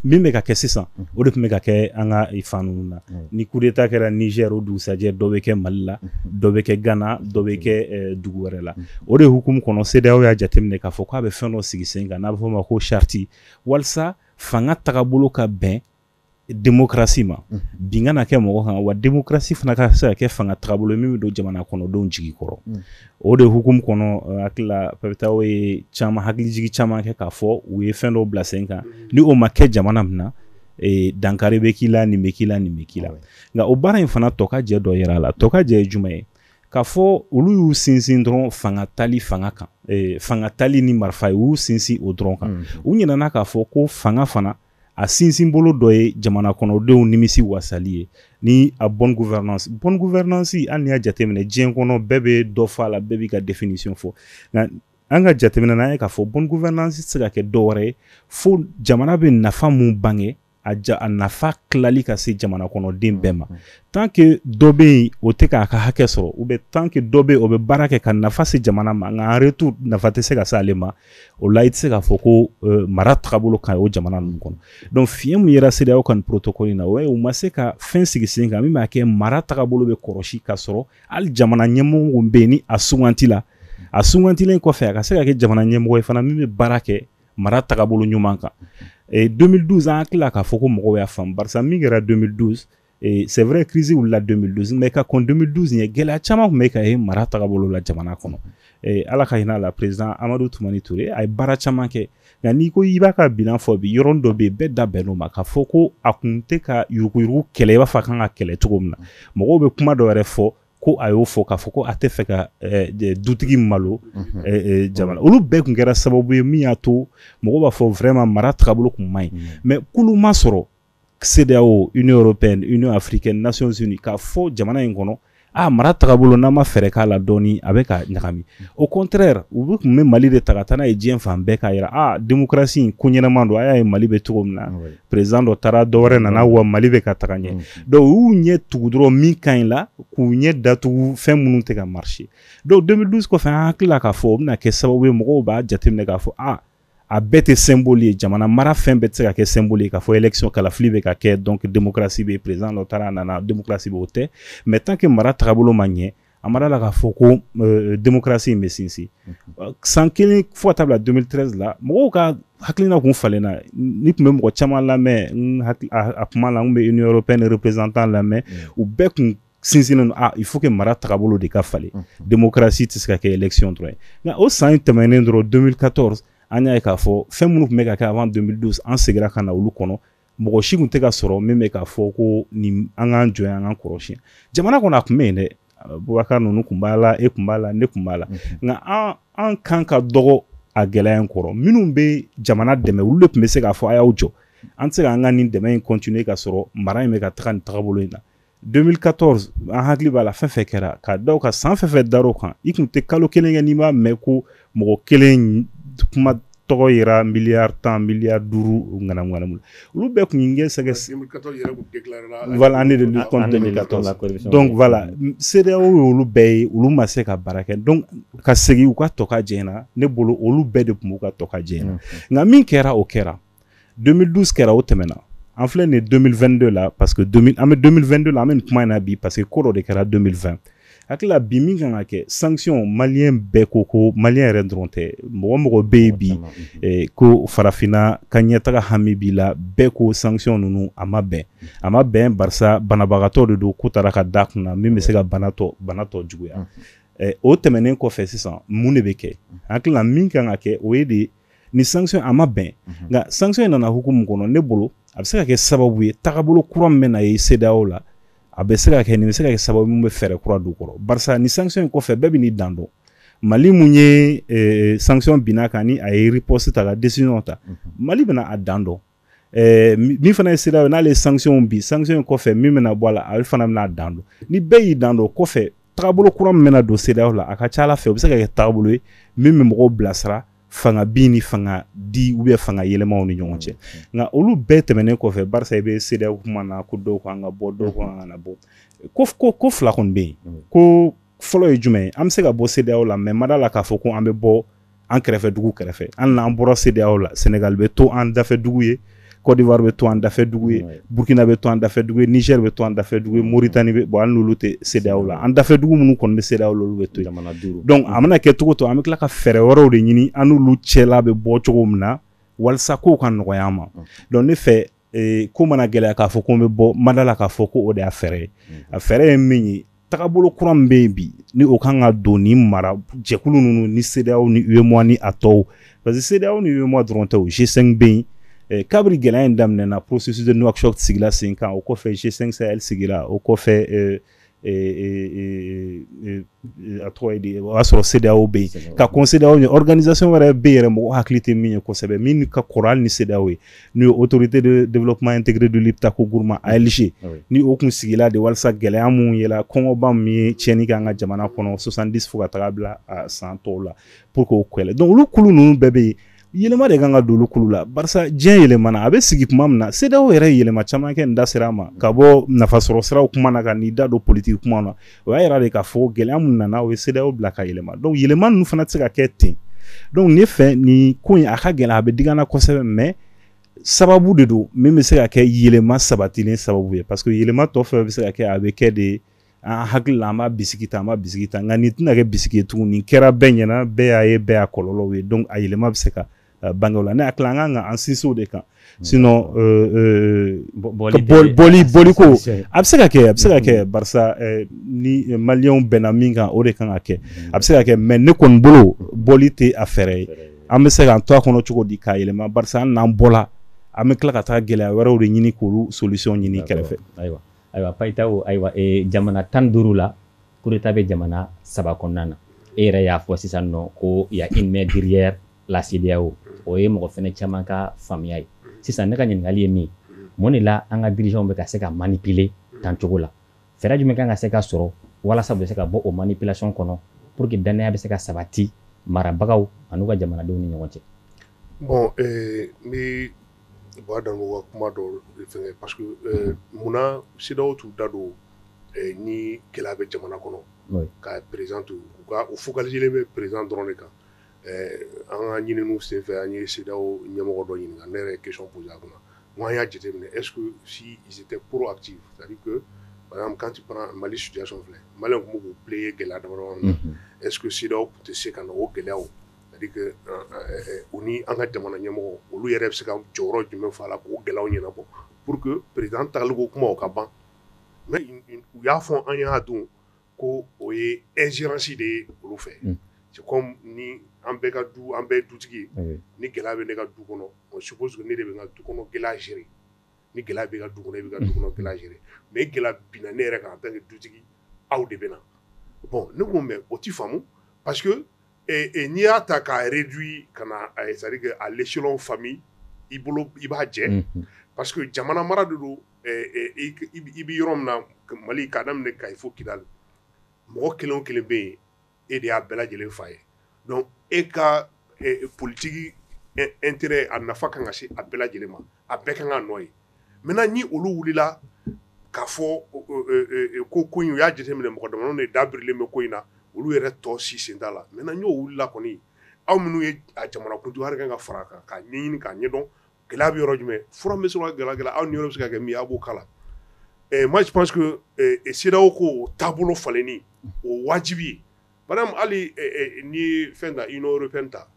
min bɛ ka kɛ sisan o de tun bɛ ka kɛ an ka fan ninnu na ni coup d'état kɛra Niger o dugusajɛ dɔ bɛ kɛ mali la dɔ bɛ kɛ gana dɔ bɛ kɛ dugu wɛrɛ la o de hukumu kɔnɔ CEDEAO y'a jateminɛ k'a fɔ k'a bɛ fɛn dɔ sigi sen kan n'a bɛ fɔ ma ko charte walasa fanga tagabolo ka bɛn démocratie ma bin kana kɛ mɔgɔ kan wa démocratie fana ka se ka kɛ fanga tagabolo min bɛ don jamana kɔnɔdenw jigi kɔrɔ o de hukumu kɔnɔ hakili la CEDEAO ye caman hakilijigi caman kɛ k'a fɔ u ye fɛn dɔ bila sen kan ni o ma kɛ jamana min na dankari bɛ k'i la nin bɛ k'i la nin bɛ k'i la nka o baara in fana tɔkajɛ dɔ yera a la tɔkajɛ ye jumɛn ye k'a fɔ olu y'u sinsin dɔrɔn fanga tali fanga kan fanga tali ni marifa y'u sinsin o dɔrɔn kan u ɲinɛna k'a fɔ ko fanga fana a sinsinbolo dɔ ye jamana kɔnɔdenw nimisi wasali ye ni a bonne gouvernance bonne gouvernance an y'a jateminɛ diɲɛ kɔnɔ bɛɛ bɛ dɔ fɔ a la bɛɛ b'i ka définition fɔ nka an ka jateminɛ na an ye k'a fɔ bonne gouvernance tɛ se ka kɛ dɔ wɛrɛ ye fo jamana bɛ nafa mun bange a ja a nafa tilali ka se jamana kɔnɔden bɛɛ ma tant que dɔ bɛ yen o tɛ k'a ka hakɛ sɔrɔ ou bien tant que dɔ bɛ yen o bɛ baara kɛ ka nafa se jamana ma nka en retour nafa tɛ se ka se ale ma o la i tɛ se k'a fɔ ko euh, mara tagabolo ka ɲi o jamana ninnu kɔnɔ donc fiɲɛ min yera CEDEAO ka nin protocole in na o ye u ma se ka fɛn sigi sen kan min b'a kɛ mara tagabolo bɛ kɔrɔsi ka sɔrɔ hali jamana ɲɛmɔgɔ bɛ yen ni a sugantila a sugantilen kɔfɛ a ka se ka kɛ jamana ɲɛmɔgɔ ye fana min bɛ baara kɛ mara tagabolo ɲuman kan 2012 an hakili la k'a fɔ ko mɔgɔw y'a faamu barisa min kɛra 2012 ee c'est vrai crise wulila 2012 mais ka kɔn 2012 ɲɛ gɛlɛya caman tun bɛ ka ye mara tagabolo la jamana kɔnɔ ee ala ka hinɛ a la président amadu tumani ture a ye baara caman kɛ nka n'i ko i b'a ka bilan fɔ bi yɔrɔnin dɔ bɛ yen bɛɛ da bɛnn'o ma k'a fɔ ko a kun tɛ ka yuruguyurugu kɛlɛ i b'a fɔ a kan ka kɛlɛ cogo min na mɔgɔw bɛ kuma dɔ yɛrɛ fɔ ko a y'o fɔ k'a fɔ ko a tɛ fɛ ka eh, eh, dutigi malo mhm. eh, jamana olu bɛɛ tun kɛra sababu ye min y'a to mɔgɔ b'a fɔ vraiment mara tagabolo tun man ɲi mhm. mais kulu ma sɔrɔ CEDEAO Union européenne Union africaine Nations unies k'a fɔ jamana in kɔnɔ a mara tagabolo n'an ma fɛɛrɛ k'a la dɔɔni a bɛ ka ɲagami au contraire u bɛ tun bɛ Mali de ta ka taa n'a ye diɲɛ fan bɛɛ k'a jira a démocratie in ko ɲɛnama don a y'a ye Mali bɛ cogo min na président dɔ taara dɔ wɛrɛ nana wa Mali bɛ ka taga ɲɛ donc u y'u ɲɛ tugu dɔrɔn min ka ɲi la k'u ɲɛ datugu fɛn minnu tɛ ka marcher donc 2012 kɔfɛ an hakili la k'a fɔ o bɛna kɛ sababu ye mɔgɔw b'a jateminɛ k'a fɔ a a bɛɛ tɛ symbole ye jamana mara fɛn bɛɛ tɛ se ka kɛ symbole ye k'a fɔ élection kalafili bɛ ka kɛ donc démocratie bɛ président dɔ taara a nana démocratie bɛ o tɛ mais tant que mara tagabolo ma ɲɛ a ma d'a la k'a fɔ ko euh, démocratie in bɛ sinsin mhm. san kelen fo ka taa bila 2013 la mɔgɔw ka hakilina kun falenna n'i tun bɛ mɔgɔ caman lamɛn a kuma la n bɛ union européenne représentant lamɛn u bɛɛ kun sinsinnen don ah il faut que mara tagabolo de ka falen démocratie tɛ se ka kɛ élection dɔrɔn ye nka o san in tɛmɛnen dɔrɔn 2014 an y'a ye k'a fɔ fɛn minnu tun bɛ ka kɛ avant 2012 an segira ka na olu kɔnɔ mɔgɔ si tun tɛ ka sɔrɔ min bɛ k'a fɔ ko nin an k'an jɔ an k'an kɔrɔsi yan jamana kɔnɔ a tun bɛ yen dɛ bubakar ninnu tun b'a la e tun b'a la ne tun b'a la nka an an kan ka dɔgɔ a gɛlɛya in kɔrɔ minnu bɛ jamana dɛmɛ olu de tun bɛ se k'a fɔ a y'aw jɔ an tɛ se k'an ka nin dɛmɛ in continuer ka sɔrɔ mara in bɛ ka taga nin tagabolo in na 2014 an hakili b'a la fɛn fɛn kɛra ka da o kan san fɛn fɛn dar'o kan i tun tɛ kalo kelen kɛ n'i m'a mɛn ko mɔgɔ kelen kuma tɔgɔ yɛrɛ miliyari tan miliyari duuru ŋanamuŋanamu la olu bɛɛ tun kɛ sɛgɛ donc voilà CEDEAO ye olu bɛɛ ye olu ma se ka baara kɛ donc ka segin u ka tɔ ka jɛ na ne bolo olu bɛɛ de tun b'u ka tɔ ka jɛ na nka min kɛra o kɛra 2012 kɛra o tɛmɛna an filɛ nin 2022 la parce que 2000 an bɛ 2022 la an bɛ nin kuma in na bi parce que ko dɔ de kɛra 2020 hakili la bi min kan ka kɛ sanction maliyɛn bɛɛ ko ko maliyɛn yɛrɛ dɔrɔn tɛ mɔgɔ mɔgɔ bɛ yen bi eh, ko farafinna ka ɲɛtaga hami b'i la bɛɛ ko sanction ninnu a ma bɛn a ma bɛn barisa banabagatɔ de don ko taara ka da kun na min bɛ se ka bana tɔ bana tɔ juguya eh, o tɛmɛnen kɔfɛ sisan mun de bɛ kɛ hakili la min kan ka kɛ o ye de nin sanction a ma bɛn mhm. nka sanction in nana hukumu kɔnɔ ne bolo a bɛ se ka kɛ sababu ye tagabolo kura min bɛna ye CEDEAO la a bɛ se ka kɛ nin bɛ se ka kɛ sababu min bɛ fɛɛrɛ kura don kɔrɔ barisa nin sanction in kɔfɛ bɛɛ bɛn'i dan dɔn mali min ye eh, sanction binna a kan ni a ye riposte ta ka décision ta mhm. mali bɛna a dan dɔn Eh, min fana ye CEDEAO ye n'ale ye sanctions bin sanctions in kɔfɛ min bɛna bɔ a la ale fana bɛna a dan dɔn ni bɛɛ y'i dan dɔn o kɔfɛ tagabolo kura min bɛna don CEDEAO la a ka ca ala fɛ o bɛ se ka kɛ tagabolo ye min bɛ mɔgɔw bilasira fanga bin ni fanga di ou bien fanga yɛlɛmaw ni ɲɔgɔn cɛ nka olu bɛɛ tɛmɛnen kɔfɛ barisa i bɛ CEDEAO kuma na ko dɔw k'an ka bɔ dɔw k'an kana bɔ ko ko ko fila kɔni bɛ yen ko fɔlɔ ye jumɛn ye an bɛ se ka bɔ CEDEAO la mais a ma d'a la k'a fɔ ko an bɛ bɔ an kɛrɛfɛ dugu kɛrɛfɛ an n'an bɔra CEDEAO la Senegal bɛ to an dafɛ dugu ye Côte d'Ivoire bɛ to an dafɛ dugu ye Burkina bɛ to an dafɛ dugu ye Niger bɛ to an dafɛ dugu ye Mauritanie bɛ bon an n'olu tɛ CEDEAO la an dafɛ dugu minnu kɔni bɛ CEDEAO la olu bɛ to jamana duuru donc a mana kɛ cogo o cogo an bɛ tila ka fɛɛrɛ wɛrɛw de ɲini an n'olu cɛla bɛ bɔ cogo min na walasa kow ka nɔgɔya an ma donc ne fɛ ee, ko mana gɛlɛya k'a fɔ ko n bɛ bɔ mada la k'a fɔ ko o de y'a fɛɛrɛ ye mhm. a fɛɛrɛ ye min ye tagabolo kura min bɛ yen bi ni o kan ka don ni mara jɛkulu ninnu ni sedeyaw ni uemoa ni a tɔw parce que sedeyaw ni uemoa dɔrɔn tɛ o g5 bɛ yen eh, kabiri gɛlɛya in daminɛna processus de nouakchott sigila sen kan o kɔfɛ g5 sahel sigila o kɔfɛ eh, a tɔgɔ ye di o y'a sɔrɔ sedeyaw bɛ yen ka kɔn sedeyaw ɲɛ organisation wɛrɛ bɛ yen yɛrɛ mɔgɔ hakili tɛ min ye kosɛbɛ min ka kɔrɔ hali ni sedeyaw ye n'o ye autorité de développement intégré du liptako gourma alg ni o kun sigila de walasa gɛlɛya minnu yela kɔngɔba min ye tiɲɛni kɛ an ka jamana kɔnɔ soixante-dix fo ka taga bila a san tɔw la pour que o kɛlɛ donc olu kulu ninnu bɛɛ bɛ yen yɛlɛma de kan ka don olu kulu la barisa diɲɛ yɛlɛmana a bɛ sigi kuma min na sedeyaw yɛrɛ yɛlɛma caman kɛ n'i da sera a ma ka bɔ nafasɔrɔ siraw kuma na ka n'i da don politiki kuma na o y'a yira de k'a fɔ gɛlɛya min nana o ye sedeyaw bila ka yɛlɛma donc yɛlɛma ninnu fana tɛ se ka kɛ ten donc ne fɛ nin ko in a ka gɛlɛn a bɛ dig'an na kosɛbɛ mais sababu de don min bɛ se ka kɛ yɛlɛma sabatilen sababu ye parce que yɛlɛma tɔ fɛn bɛ se ka kɛ a bɛ kɛ de an hakili la an b'a bisigi ta an b'a bisigi ta nka nin tɛna kɛ bisigi ye tuguni nin kɛra bɛɛ ɲɛna bɛɛ y'a ye bɛɛ y'a kɔlɔlɔw ye donc a yɛlɛma bɛ se ka uh, bange o la ne hakili la an kan ka an sinsin o de kan mm. sinon euh, euh, bɔli bɔli ko a bɛ se ka kɛ a bɛ se ka mm. kɛ barisa euh, ni maliyɛnw bɛnna min kan o de kan ka kɛ mm. a bɛ se ka kɛ mais ne kɔni bolo bɔli tɛ a fɛɛrɛ ye an bɛ se k'an to a kɔnɔ cogo di k'a yɛlɛma barisa an n'an bɔla an bɛ tila ka taa gɛlɛya wɛrɛw de ɲini k'olu solution ɲini kɛrɛfɛ ayiwa Ayiwa Payitao ayiwa jamana tan duuru la coup d'état bɛ jamana saba kɔnɔna na e yɛrɛ y'a fɔ sisan nɔ ko y a une main derrière la sedeyaw o ye mɔgɔ fɛnɛ caman ka faamuya ye sisan ne ka ɲininkakali ye min mun de la an ka dirigeants bɛ ka se ka manipuler tan cogo la fɛɛrɛ jumɛn kan ka se ka sɔrɔ walasa bɛ se ka bɔ o manipulation kɔnɔ pour que danaya bɛ se ka sabati marabagaw an'u ka jamanadenw ni ɲɔgɔn cɛ bon U b'a dan ka kuma dɔw fɛ pa munna sidaw tun da don ni gɛlɛya bɛ jamana kɔnɔ ka perez u u fo ka lajɛlen bɛ perez dɔrɔn de kan an ka ɲini senfɛ an ye seda ɲɛmɔgɔ dɔ ɲini ne yɛrɛ kec kun kunna n'an y'a jate minɛ e si tɛ p ati kanti mali suyafɛ mali tun b'u bilen ye gɛlɛya dɔrɔn e sidaw tun tɛ se ka o gɛlɛya u ni an ka jamana ɲɛmɔgɔ olu yɛrɛ bɛ se ka jɔyɔrɔ jumɛn fa la k'o gɛlɛya ɲɛnabɔ pour que président taaliko kuma o ka ban u y'a fɔ an y'a dɔn ko o ye ingérence de ye olu fɛ c'est comme ni an bɛɛ ka du an bɛɛ dutigi ye ni gɛlɛya bɛ ne ka du kɔnɔ on suppose que ne de bɛ n ka du kɔnɔ gɛlɛya gérer ni gɛlɛya bɛ ka du kɔnɔ e bɛ ka du kɔnɔ gɛlɛya gérer mais gɛlɛya binna ne yɛrɛ kan en tant que dutigi aw de bɛ na bon ne ko mais o tɛ faamu parce que n'i y'a ta k'a réduit ka na c'est-à-dire que à l'échelon famille i bolo i b'a jɛ parce que jamana mara de don i bɛ yɔrɔ min na Mali k'a daminɛ Kayi fo Kidali mɔgɔ kelen o kelen bɛ yen e de y'a bɛɛ lajɛlen fa ye donc e ka politique intérêt a nafa ka kan ka se a bɛɛ lajɛlen ma a bɛɛ ka kan k'a nɔ ye maintenant ni olu wulila k'a fɔ ko ko in u y'a jateminɛ mɔgɔ damadɔ de da birilen bɛ ko in na olu yɛrɛ tɔ si sen t'a la maintenant n'o wulila kɔni aw minnu ye jamana kuntigi kan ka fara kan k'a ɲɛɲini k'a ɲɛdɔn gɛlɛya bɛ yɔrɔ jumɛn fura bɛ sɔrɔ ka gɛlɛya aw niyɔrɔ bɛ se ka kɛ min a b'o k'a la moi je pense que CEDEAO ko taabolo falenni o wajibi ye par exemple hali ni fɛn ta Union européenne ta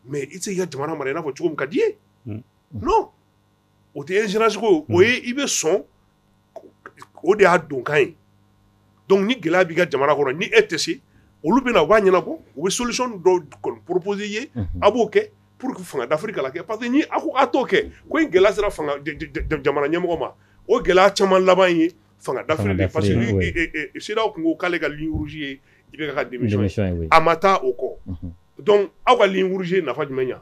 mais i tɛ se k'i ka jamana mara i n'a fɔ cogo min ka di i ye o tɛ ye ingérence ko o ye i bɛ sɔn o de y'a donkan ye donc ni gɛlɛya b'i ka jamana kɔnɔ ni e tɛ se olu bɛna u b'a ɲɛnabɔ u bɛ solution dɔ kɔni proposer i ye a b'o kɛ pour que fanga dafiri kana kɛ parce que n'a ko a t'o kɛ ko in gɛlɛya sera jamana ɲɛmɔgɔ ma o gɛlɛya caman laban ye fanga dafiri parce que CEDEAO tun ko k'ale ka ligne rouge ye i bɛ ka démission a ma taa o kɔ donc aw ka ligne rouge ye nafa jumɛn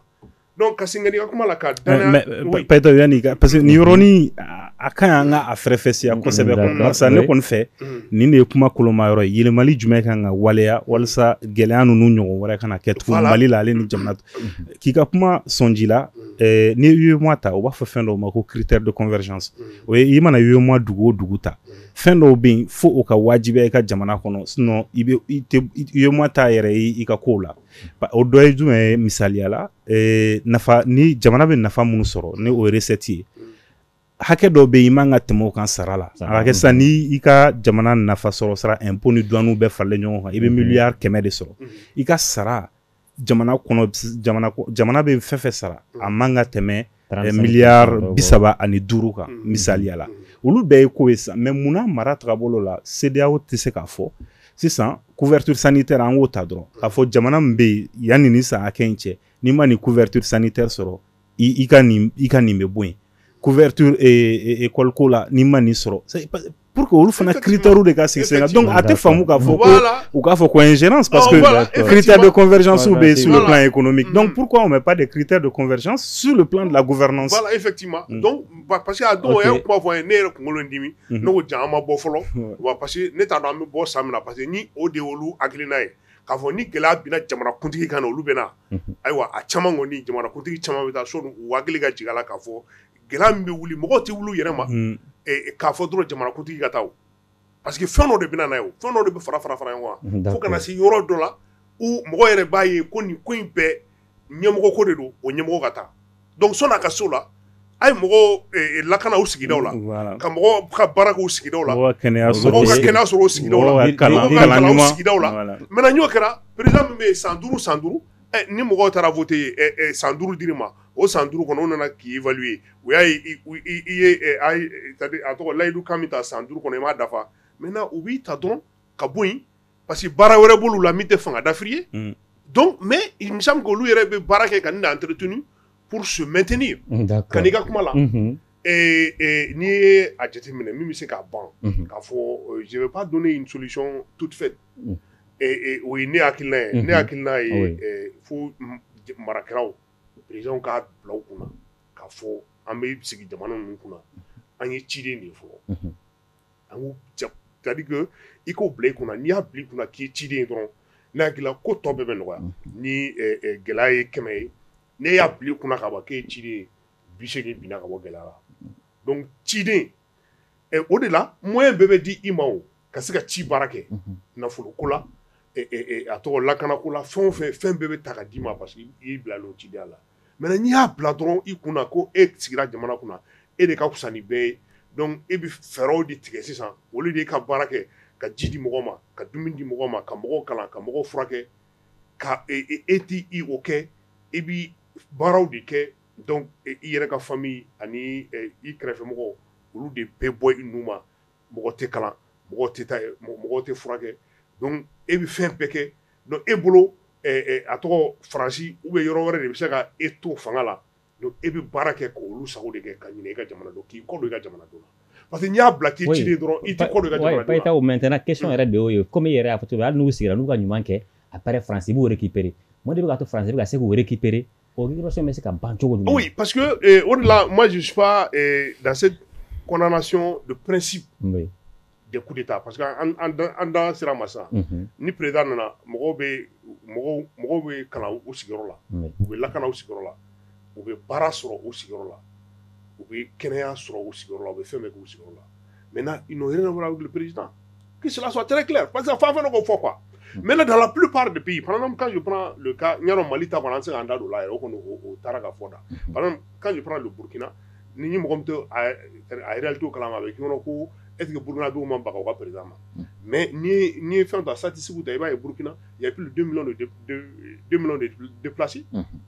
Donc ka segin ka na i ka kuma la ka danaya mais oui Payitao yanni ka parce que nin yɔrɔnin a ka ɲi an ka a fɛrɛfɛsiya kosɛbɛ quoi d'accord barisa ne kɔni fɛ nin de ye kuma koloma yɔrɔ ye yɛlɛmali jumɛn kan ka waleya walasa gɛlɛya ninnu ɲɔgɔn wɛrɛ kana kɛ tugun voilà Mali la ale ni jamana t k'i ka kuma sɔnji la ɛɛ n'i ye UEMOA ta u b'a fɔ fɛn dɔw ma ko critère de convergence o ye i mana UEMOA dugu o dugu ta fɛn dɔw bɛ yen fo o ka wajibiya i ka jamana kɔnɔ sinon i bɛ i tɛ UEMOA t'a yɛrɛ ye i ka kow la o dɔ ye jumɛn ye misaliya la eh, nafa ni jamana bɛ nafa minnu sɔrɔ ni o recette ye hakɛ dɔ bɛ yen i man ka tɛmɛ o kan sara la a kɛ sisan ni i ka jamana nafa sɔrɔsira impôt ni duwaniw bɛɛ faralen ɲɔgɔn kan i bɛ mhm. miliyari kɛmɛ de sɔrɔ mhm. i ka sara jamana kɔnɔ jamana bɛ fɛn fɛn sara a man ka tɛmɛ eh, miliyari bi saba ani duuru kan mm-hmm. misaliya la mm-hmm. olu bɛɛ ye ko ye sisan mais munna mara tagabolo la CEDEAO tɛ se k'a fɔ sisan couverture sanitaire an k'o ta dɔrɔn k'a fɔ jamana min bɛ yen yanni ni san hakɛ in cɛ n'i ma nin couverture sanitaire sɔrɔ i ka nin bɛ bɔ yen couverture eh, eh, école ko la n'i ma nin sɔrɔ pour que olu fana critèrew de ka sigi sen kan donc a tɛ faamu k'a fɔ ko u k'a fɔ ko ingérence parce que critères de convergence bɛ sur le plan économique donc mm. pourquoi on met pas des critères de convergence sur le plan de la gouvernance voilà effectivement mm. donc parce que a dɔw yɛrɛ kuma fɔ a ye ne yɛrɛ kunkolo in dimi mm-hmm. ne ko jaa an ma bɔ fɔlɔ wa parce que ne t'a dɔn an bɛ bɔ san min na parce que ni o de y'olu hakilina ye k'a fɔ ni gɛlɛya binna jamanakuntigi kan na olu bɛna mm-hmm. ayiwa a caman kɔni jamanakuntigi caman bɛ taa so u hakili ka jigin a la k'a fɔ gɛlɛya min bɛ wuli mɔgɔw tɛ wuli u yɛrɛ ma, un, ɛ k'a fɔ dɔrɔn jamanakuntigi ka taa o parce que fɛn dɔ de bɛ na n'a ye o, fɛn dɔ de bɛ fara fara fara ɲɔgɔn kan, d'accord, fo ka na se yɔrɔ dɔ la où mɔgɔ yɛrɛ b'a ye ko nin ko in bɛɛ ɲɛmɔgɔ ko de don o ɲɛmɔgɔ ka taa donc sɔni a ka se o la a ye mɔgɔw ɛ lakana u sigidaw la, voilà, ka mɔgɔw ka baara k'u sigidaw la, mɔgɔw ka kɛnɛya sɔrɔ, mɔgɔw ka kɛnɛya sɔrɔ u sigidaw la, mɔgɔw ka kalan ɲuman, mɔgɔw ka kalan u sigidaw la, voilà, maintenant n'o kɛra président min bɛ yen san duuru san duuru ɛ ni mɔgɔw taara voter ɛ ɛ san duuru dir'i ma o san duuruuru kɔnɔ u nana k'i vli ye u y'a a tɔgɔ layidu ka bɛ taa san duuruuru kɔnɔ i m'a dafa mɛ u b'i ta dɔn ka bɔ yen pa que baara wɛrɛ bolo la min tɛ fanga dafi ye mɛ olu yɛrɛ bɛ baara kɛ ka dan ant tun pur mɛtini ka i ka kuma la n'i ye a jate minɛ min bɛ se k'a ban k'a fɔ zeba don ni solisɔn tutifɛ o ye ne y'kila ye ne y'kila ye fo marakɛlaw présidents k'a bila u kunna k'a fɔ an bɛ sigi jamana ninnu kunna an ye ciden de ye fɔlɔ c'est-à-dire que i k'o bila i kunna n'i y'a bila i kunna k'i ye ciden ye dɔrɔn ne hakili la ko tɔ bɛɛ bɛ nɔgɔya ni gɛlɛya ye kɛmɛ ye n'i y'a bila i kunna ka ban k'e ye ciden ye bi segin binna ka bɔ gɛlɛya la donc ciden o de la moyen bɛɛ bɛ di i ma o ka se ka ci baara kɛ nafolo ko la a tɔgɔ lakana ko la fɛn o fɛn fɛn bɛɛ bɛ ta ka d'i ma parce que y'i bila o cidenya la maintenant n'i y'a bila dɔrɔn i kunna ko e sigira jamana kunna e de ka fisa ni bɛɛ ye donc e bɛ fɛɛrɛw de tigɛ sisan au lieu de i ka baara kɛ ka ji di mɔgɔ ma ka dumuni di mɔgɔ ma ka mɔgɔw kalan ka mɔgɔw furakɛ ka e t tɛ o kɛ e bɛ baaraw de kɛ donc i yɛrɛ ka famille ani i kɛrɛfɛ mɔgɔw olu de bɛ bɔ i nu ma mɔgɔ tɛ kalan mɔgɔ tɛ taa mɔgɔ tɛ furakɛ donc e bɛ fɛn bɛɛ kɛ donc e bolo a tɔgɔ Faransi ou bien yɔrɔ wɛrɛ de bɛ se ka e to fanga la donc e bɛ baara kɛ ka olu sago de kɛ ka ɲinɛ i ka jamanadenw k'i kɔ don i ka jamanadenw na parce que n'i y'a bila k'i ciden dɔrɔn i tɛ kɔ don i ka jamanadenw na oui Bayitaho maintenant question yɛrɛ de y'o ye comme i yɛrɛ y'a fɔ cogo min hali n'u sigira n'u ka ɲuman kɛ après Faransi b'u récupérer mun de bɛ k'a to France bɛ ka se k'u récupérer O récupération bɛ se ka ban cogo jumɛn? Oui parce que ee o de la moi je suis pas ee dans cette condamnation de principe oui des coup d'Etat parce que an an da an da sera a ma sisan unhun ni président nana mɔgɔw bɛ mɔgɔw mɔgɔw bɛ kalan u sigiyɔrɔ la oui u bɛ lakana u sigiyɔrɔ la u bɛ baara sɔrɔ u sigiyɔrɔ la u bɛ kɛnɛya sɔrɔ u sigiyɔrɔ la u bɛ fɛn bɛɛ k'u sigiyɔrɔ la mɛ na i n'o yɛrɛ wara wuli pered ki sɔn tɛ tila parce que fa fana ko fɔ qu mɛ ne da la pl de bi pan ka ɲa mali ta an se ka an da don la o kɔni o taara ka fɔ da kan don burukina ni ni mɔgɔ to a to kala a bɛ ɲɔgɔn ko e burukina don ma bagan ka pered ma mɛ ni ye fɛn ta sati segu ta i b'a ye burukina ya pl de plasi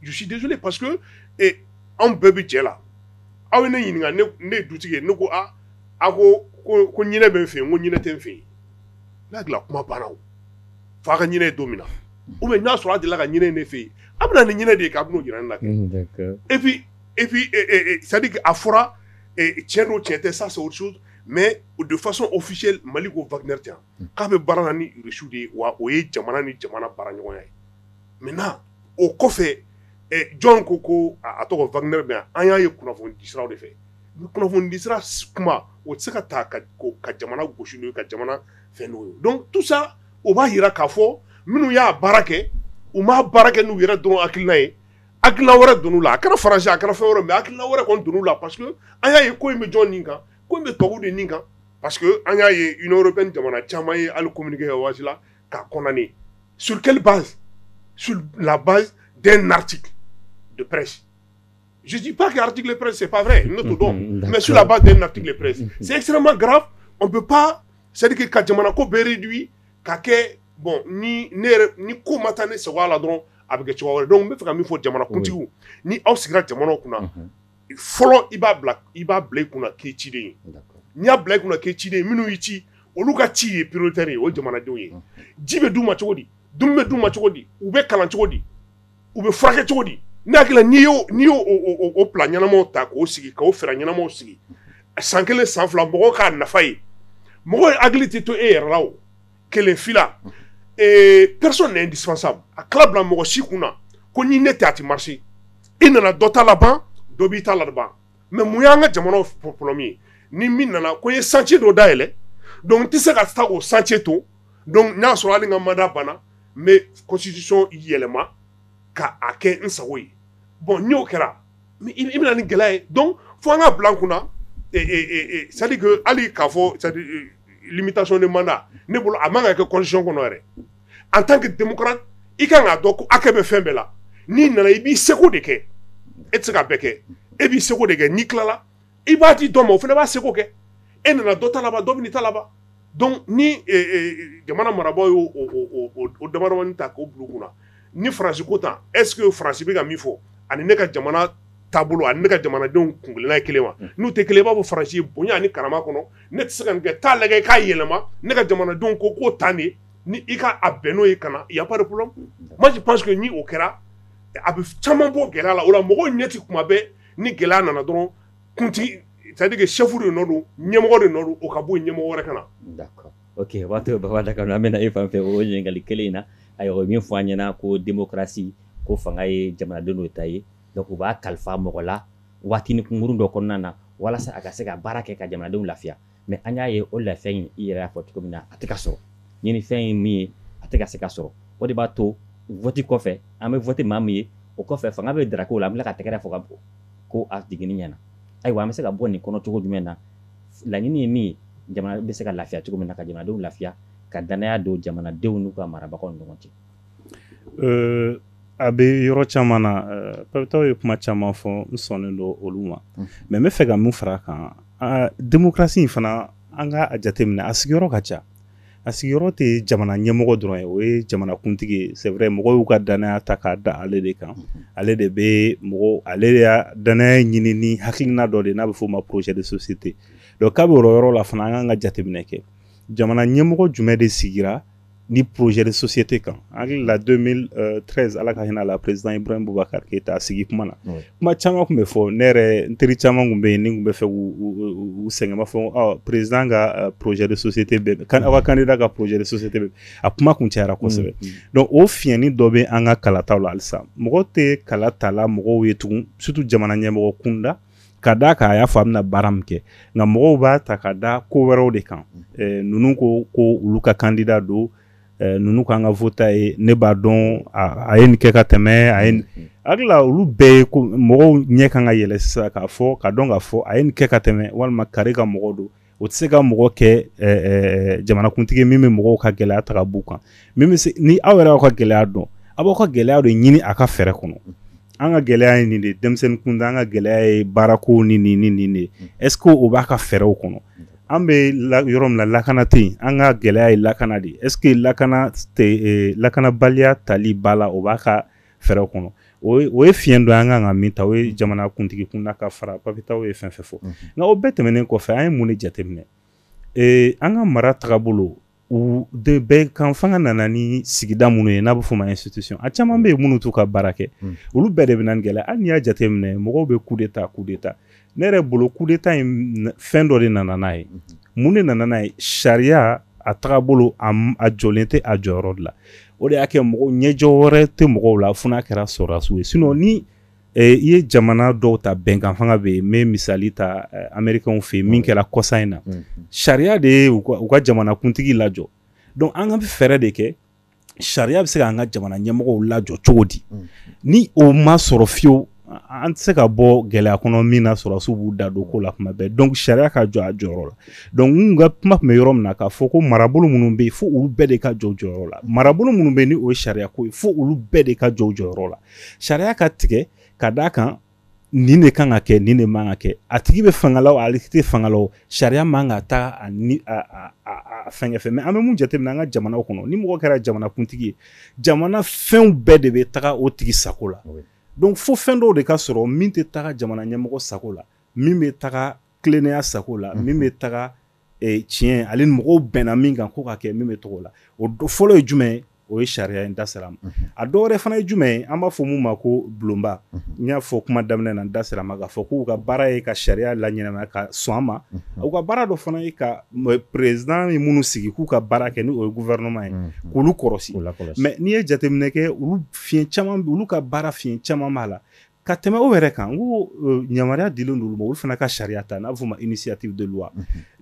dusu de pa anw bɛɛ bɛ cɛ la aw ye ne ɲininka ne du ye ne ko a ko ko bɛ fɛ yen ko ɲ tɛ fɛ yen n'a dilan kuma banna fa ka ɲinin don min na u bɛ n'a sɔrɔ a dilan ka ɲinin de fɛ yen a bɛ ni ɲinin de ye ka jira la e sadi a fɔra cɛ don cɛ tɛ sa mɛ o de fasɔn o fi mali ko vte k'a bɛ baara la ni Russie de ye wa o ye jamana ni jamana baara ɲɔgɔnya ye maintenant o kɔfɛ ɛ jɔn ko ko a tɔgɔ Wagner bɛ yan an y'a ye kunnafoni di siraw de fɛ kunnafoni di sira s kuma o tɛ se ka ta ka ko ka jamana gosi n'o ye ka jamana fɛn n'o ye donc tout ça o b'a jira k'a fɔ minnu y'a baara kɛ u m'a baara kɛ n'u yɛrɛ dɔrɔn hakilina ye hakilina wɛrɛ donn'u la a kɛra France a kɛra fɛn wɛrɛ mais hakilina wɛrɛ kɔni donn'u la parce que an y'a ye ko in bɛ jɔn nin kan ko bɛ to de nin kan pa que an y'a ye i bɛ jamana caman ye ali kɛ waati la ka kɔnɔni suli su laba den nati don pɛsi zsi pa que arati pɛsi pa fɛ n to dɔn mɛ sulaba den nati pɛsi sesirama ga o bɛ pan seriki ka jamana ko bere ka kɛ bɔn ni ni ko ma taa ni segu la dɔrɔn a bɛ kɛ cogo wɛrɛ dɔn n bɛ fɛ ka min fɔ jamanakuntigi ni aw sigira jamana kunna fɔlɔ i b'a bila i b'a bila i kunna k'i ciden ye n'i y'a bila i kunna k'i ciden ye minnu y'i ci olu ka ci ye prioritaire ye o ye jamanadenw ye ji bɛ d'u ma cogo di dumuni bɛ d'u ma cogo di u bɛ kalan cogo di u bɛ furakɛ cogo di ne hakili la n'i y'o n'i y'o o o plan ɲɛnamaw ta k'o sigi k'o fɛɛrɛ ɲɛnamaw sigi san kelen san fila mɔgɔw k'a nafa ye mɔgɔw hakili tɛ to e yɛrɛ la o kelen fila ee personne n'est indispensable a kana bila mɔgɔ si kunna ko ni ne tɛ a tɛ marcher i nana dɔ ta laban dɔ b'i ta laban mais mun y'an ka jamanaw problème ye ni min nana ko n ye chantier dɔ dayɛlɛ donc n tɛ se ka taa o chantier to donc n'a sɔrɔ hali n ka mandat banna n bɛ constitution yɛlɛma ka a kɛ n sago ye bon n'o kɛra i bɛna ni gɛlɛya ye donc fo an k'a bila an kunna c'est à dire que hali k'a fɔ c'est à dire limitation de mandat ne bolo a man ka kɛ constitution kɔnɔ yɛrɛ en tant que démocrate i ka kan k'a dɔn ko hakɛ bɛ fɛn bɛɛ la n'i nana i b'i seko de kɛ e tɛ se ka bɛɛ kɛ e b'i seko de kɛ n'i tilala i b'a di dɔ ma o fana b'a seko kɛ e nana dɔ ta laban dɔ bɛn'i ta laban donc ni eh, eh, jamana marabaaw y'o o damadamani ta k'o bila u kunna ni faransi ko tan est ce que faransi bɛ ka min fɔ ani ne ka jamana taabolo ani ne ka jamanadenw kunkelenna ye kelen wa hmm. n'u tɛ kelen i b'a fɔ faransi ye bonya ani karama kɔnɔ ne tɛ se ka nin kɛ taa lajɛ k'a yɛlɛma ne ka jamanadenw ko k'o tan de ni i ka a bɛn n'o ye ka na y a pas de problème hmm. moi je pense que ni o kɛra a bɛ caman bɔ gɛlɛya la o la mɔgɔw ɲɛ tɛ kuma bɛɛ ni gɛlɛya nana dɔrɔn kuntigi c'est à dire que chef de nɔ don ɲɛmɔgɔ de nɔ don o ka bɔ yen ɲɛmɔgɔ wɛrɛ ka na d'accord ok o b'a to baba dakono an bɛ na e fan fɛ o ɲininkali kelen in na ayiwa o ye min fɔ an ɲɛna ko démocratie ko fanga ye jamanadenw de ta ye donc u b'a kalifa mɔgɔ la waatini kunkurun dɔ kɔnɔna na walasa a ka se ka baara kɛ ka jamanadenw lafiya mais an y'a ye o lafiya in i yɛrɛ y'a fɔ cogo min na a tɛ ka sɔrɔ ɲinifɛn ye min ye a tɛ ka se ka sɔrɔ o de b'a to vote kɔfɛ an bɛ vote maa min ye o kɔfɛ fanga bɛ daraka o la an bɛ ka tɛgɛrɛ fɔ k'a fɔ ko a jiginni ɲɛna ayiwa an bɛ se ka bɔ nin kɔnɔ cogo jumɛn na laɲini ye min ye jamana bɛ se ka lafiya cogo min na ka jamanadenw lafiya ka dannaya don jamanadenw n'u ka marabagaw ɲɔgɔn cɛ Ɛɛ a bɛ yɔrɔ caman na papitaw ye kuma caman fɔ n sɔnnen don olu ma mais n b'a fɛ ka min fara a kan démocratie in fana an ka a jateminɛ a sigiyɔrɔ ka ca a sigiyɔrɔ tɛ jamana ɲɛmɔgɔ dɔrɔn ye o ye jamanakuntigi ye c'est vrai mɔgɔw y'u ka dannaya ta k'a da ale de kan ale de bɛ mɔgɔw ale de ye dannaya ɲini ni hakilina dɔ de n'a bɛ f'o ma projet de société donc k'a bɛ o yɔrɔ la fana an ka kan ka jateminɛ kɛ jamana ɲɛmɔgɔ jumɛn de sigira ni projet de société kan an hakili la 2013 ala ka hinɛ la président ibrahim boubacar keyita a sigi kuma na kuma caman tun bɛ fɔ ne yɛrɛ n teri caman tun bɛ yen n'i tun b'a fɛ k'u sɛgɛn i b'a fɔ ɔ président ka euh, projet de société bɛ aw ka candidat ka projet de société bɛ a kuma kun cayara kosɛbɛ mm, mm. donc o fiɲɛnin dɔ bɛ an ka kalataw la halisa mɔgɔ tɛ kalata la mɔgɔw ye tugun surtout jamana ɲɛmɔgɔ kunda ka d'a kan a y'a fɔ a bɛna baara min kɛ nka mɔgɔw b'a ta ka da ko wɛrɛw de kan eh, ninnu ko ko olu ka candidat don eh, ninnu k'an ka vote a ye ne b'a dɔn a ye nin kɛ ka tɛmɛ ayi n hakili la olu bɛɛ ye ko mɔgɔw ɲɛ kan ka yɛlɛ sisan k'a fɔ k'a dɔn k'a fɔ a ye nin kɛ ka tɛmɛ walima kari ka mɔgɔ don o tɛ se ka mɔgɔ kɛ jamanakuntigi min bɛ mɔgɔw ka gɛlɛya ta ka b'u kan min bɛ se ni aw yɛrɛ y'aw ka gɛlɛya dɔn aw b'aw ka gɛlɛya de ɲini a ka fɛɛrɛ kɔnɔ an ka gɛlɛya ye nin de denmisɛnnin kunda an ka gɛlɛya ye baarako ni nin ni nin de est-ce que o b'a ka fɛɛrɛw kɔnɔ an bɛ yɔrɔ min na lakana tɛ yen an ka gɛlɛya ye lakana de ye est-ce que lakana lakanabaliya tali ba la o b'a ka fɛɛrɛw kɔnɔ o ye fiɲɛ dɔ an kan ka min ta o ye jamana kuntigi kunda ka fara papitaw ye fɛn fɛn fɔ nka o bɛɛ tɛmɛnen kɔfɛ an ye mun de jateminɛ an ka mara tagabolow de bɛnkan fanga nana ni sigida minnu ye n'a bɛ f'o ma institution a caman bɛ yen minnu t'u ka baara kɛ olu bɛɛ de bɛ na ni gɛlɛya hali n'i y'a jateminɛ mɔgɔw bɛ coup d'état coup d'état ne yɛrɛ bolo coup d'état in fɛn dɔ de nana n'a ye mun de nana n'a ye sariya a tagabolo a jɔlen tɛ a jɔyɔrɔ de la o de y'a kɛ mɔgɔ ɲɛjɔ wɛrɛ tɛ mɔgɔw la fo n'a kɛra sɔrɔdasiw ye sinon ni i ye jamana dɔw ta bɛnkan fanga bɛ yen n bɛ misali ta américains fɛ yen min kɛra kɔsa in na sariya de ye u ka jamanakuntigi lajɔ donc an ka bɛ fɛɛrɛ de kɛ sariya bɛ se k'an ka jamana ɲɛmɔgɔw lajɔ cogo di mm. ni o ma sɔrɔ fiyewu an tɛ se ka bɔ gɛlɛya kɔnɔ min na sɔrɔdasiw b'u da don ko la kuma bɛɛ donc sariya ka jɔ a jɔyɔrɔ la donc n ka kuma tun bɛ yɔrɔ min na k'a fɔ ko marabolo minnu bɛ yen fo olu bɛɛ de ka jɔ u jɔyɔrɔ la marabolo minnu bɛ yen ni o ye sariya ko ye fo olu bɛɛ de ka jɔ u jɔyɔrɔ la sariya ka tigɛ ka d'a kan nin de kan ka kɛ nin de man ka kɛ a tigi bɛ fanga la o ale tɛ fanga la o sariya man ka taa a fɛnkɛ fɛ mais an bɛ mun jateminɛ an ka jamanaw kɔnɔ ni mɔgɔ kɛra jamanakuntigi ye jamana fɛnw bɛɛ de bɛ taga o tigi sago la donc fo fɛn dɔw de ka sɔrɔ min tɛ taga jamana ɲɛmɔgɔ sago la min bɛ taga tilennenya sago la min bɛ taga tiɲɛ ale mɔgɔw bɛnna min kan k'o ka kɛ min bɛ taga o la o fɔlɔ ye jumɛn ye o ye sariya ye n da sera a ma a dɔ wɛrɛ fana ye jumɛn ye an b'a fɔ min ma ko bulonba n y'a fɔ kuma daminɛ na n da sera a ma k'a fɔ k'u ka baara ye ka sariya laɲɛnamaya ka sɔn a ma u ka baara dɔ fana ye ka président ye minnu sigi k'u ka baara kɛ n'o ye gouvernement ye k'olu kɔrɔsi mais n'i ye jateminɛ kɛ olu fiɲɛ caman olu ka baara fiɲɛ caman b'a la Ka tɛmɛ o yɛrɛ kan ko yamaruya dilen don olu ma olu fana ka sariya ta n'a bɛ fɔ o ma initiative de loi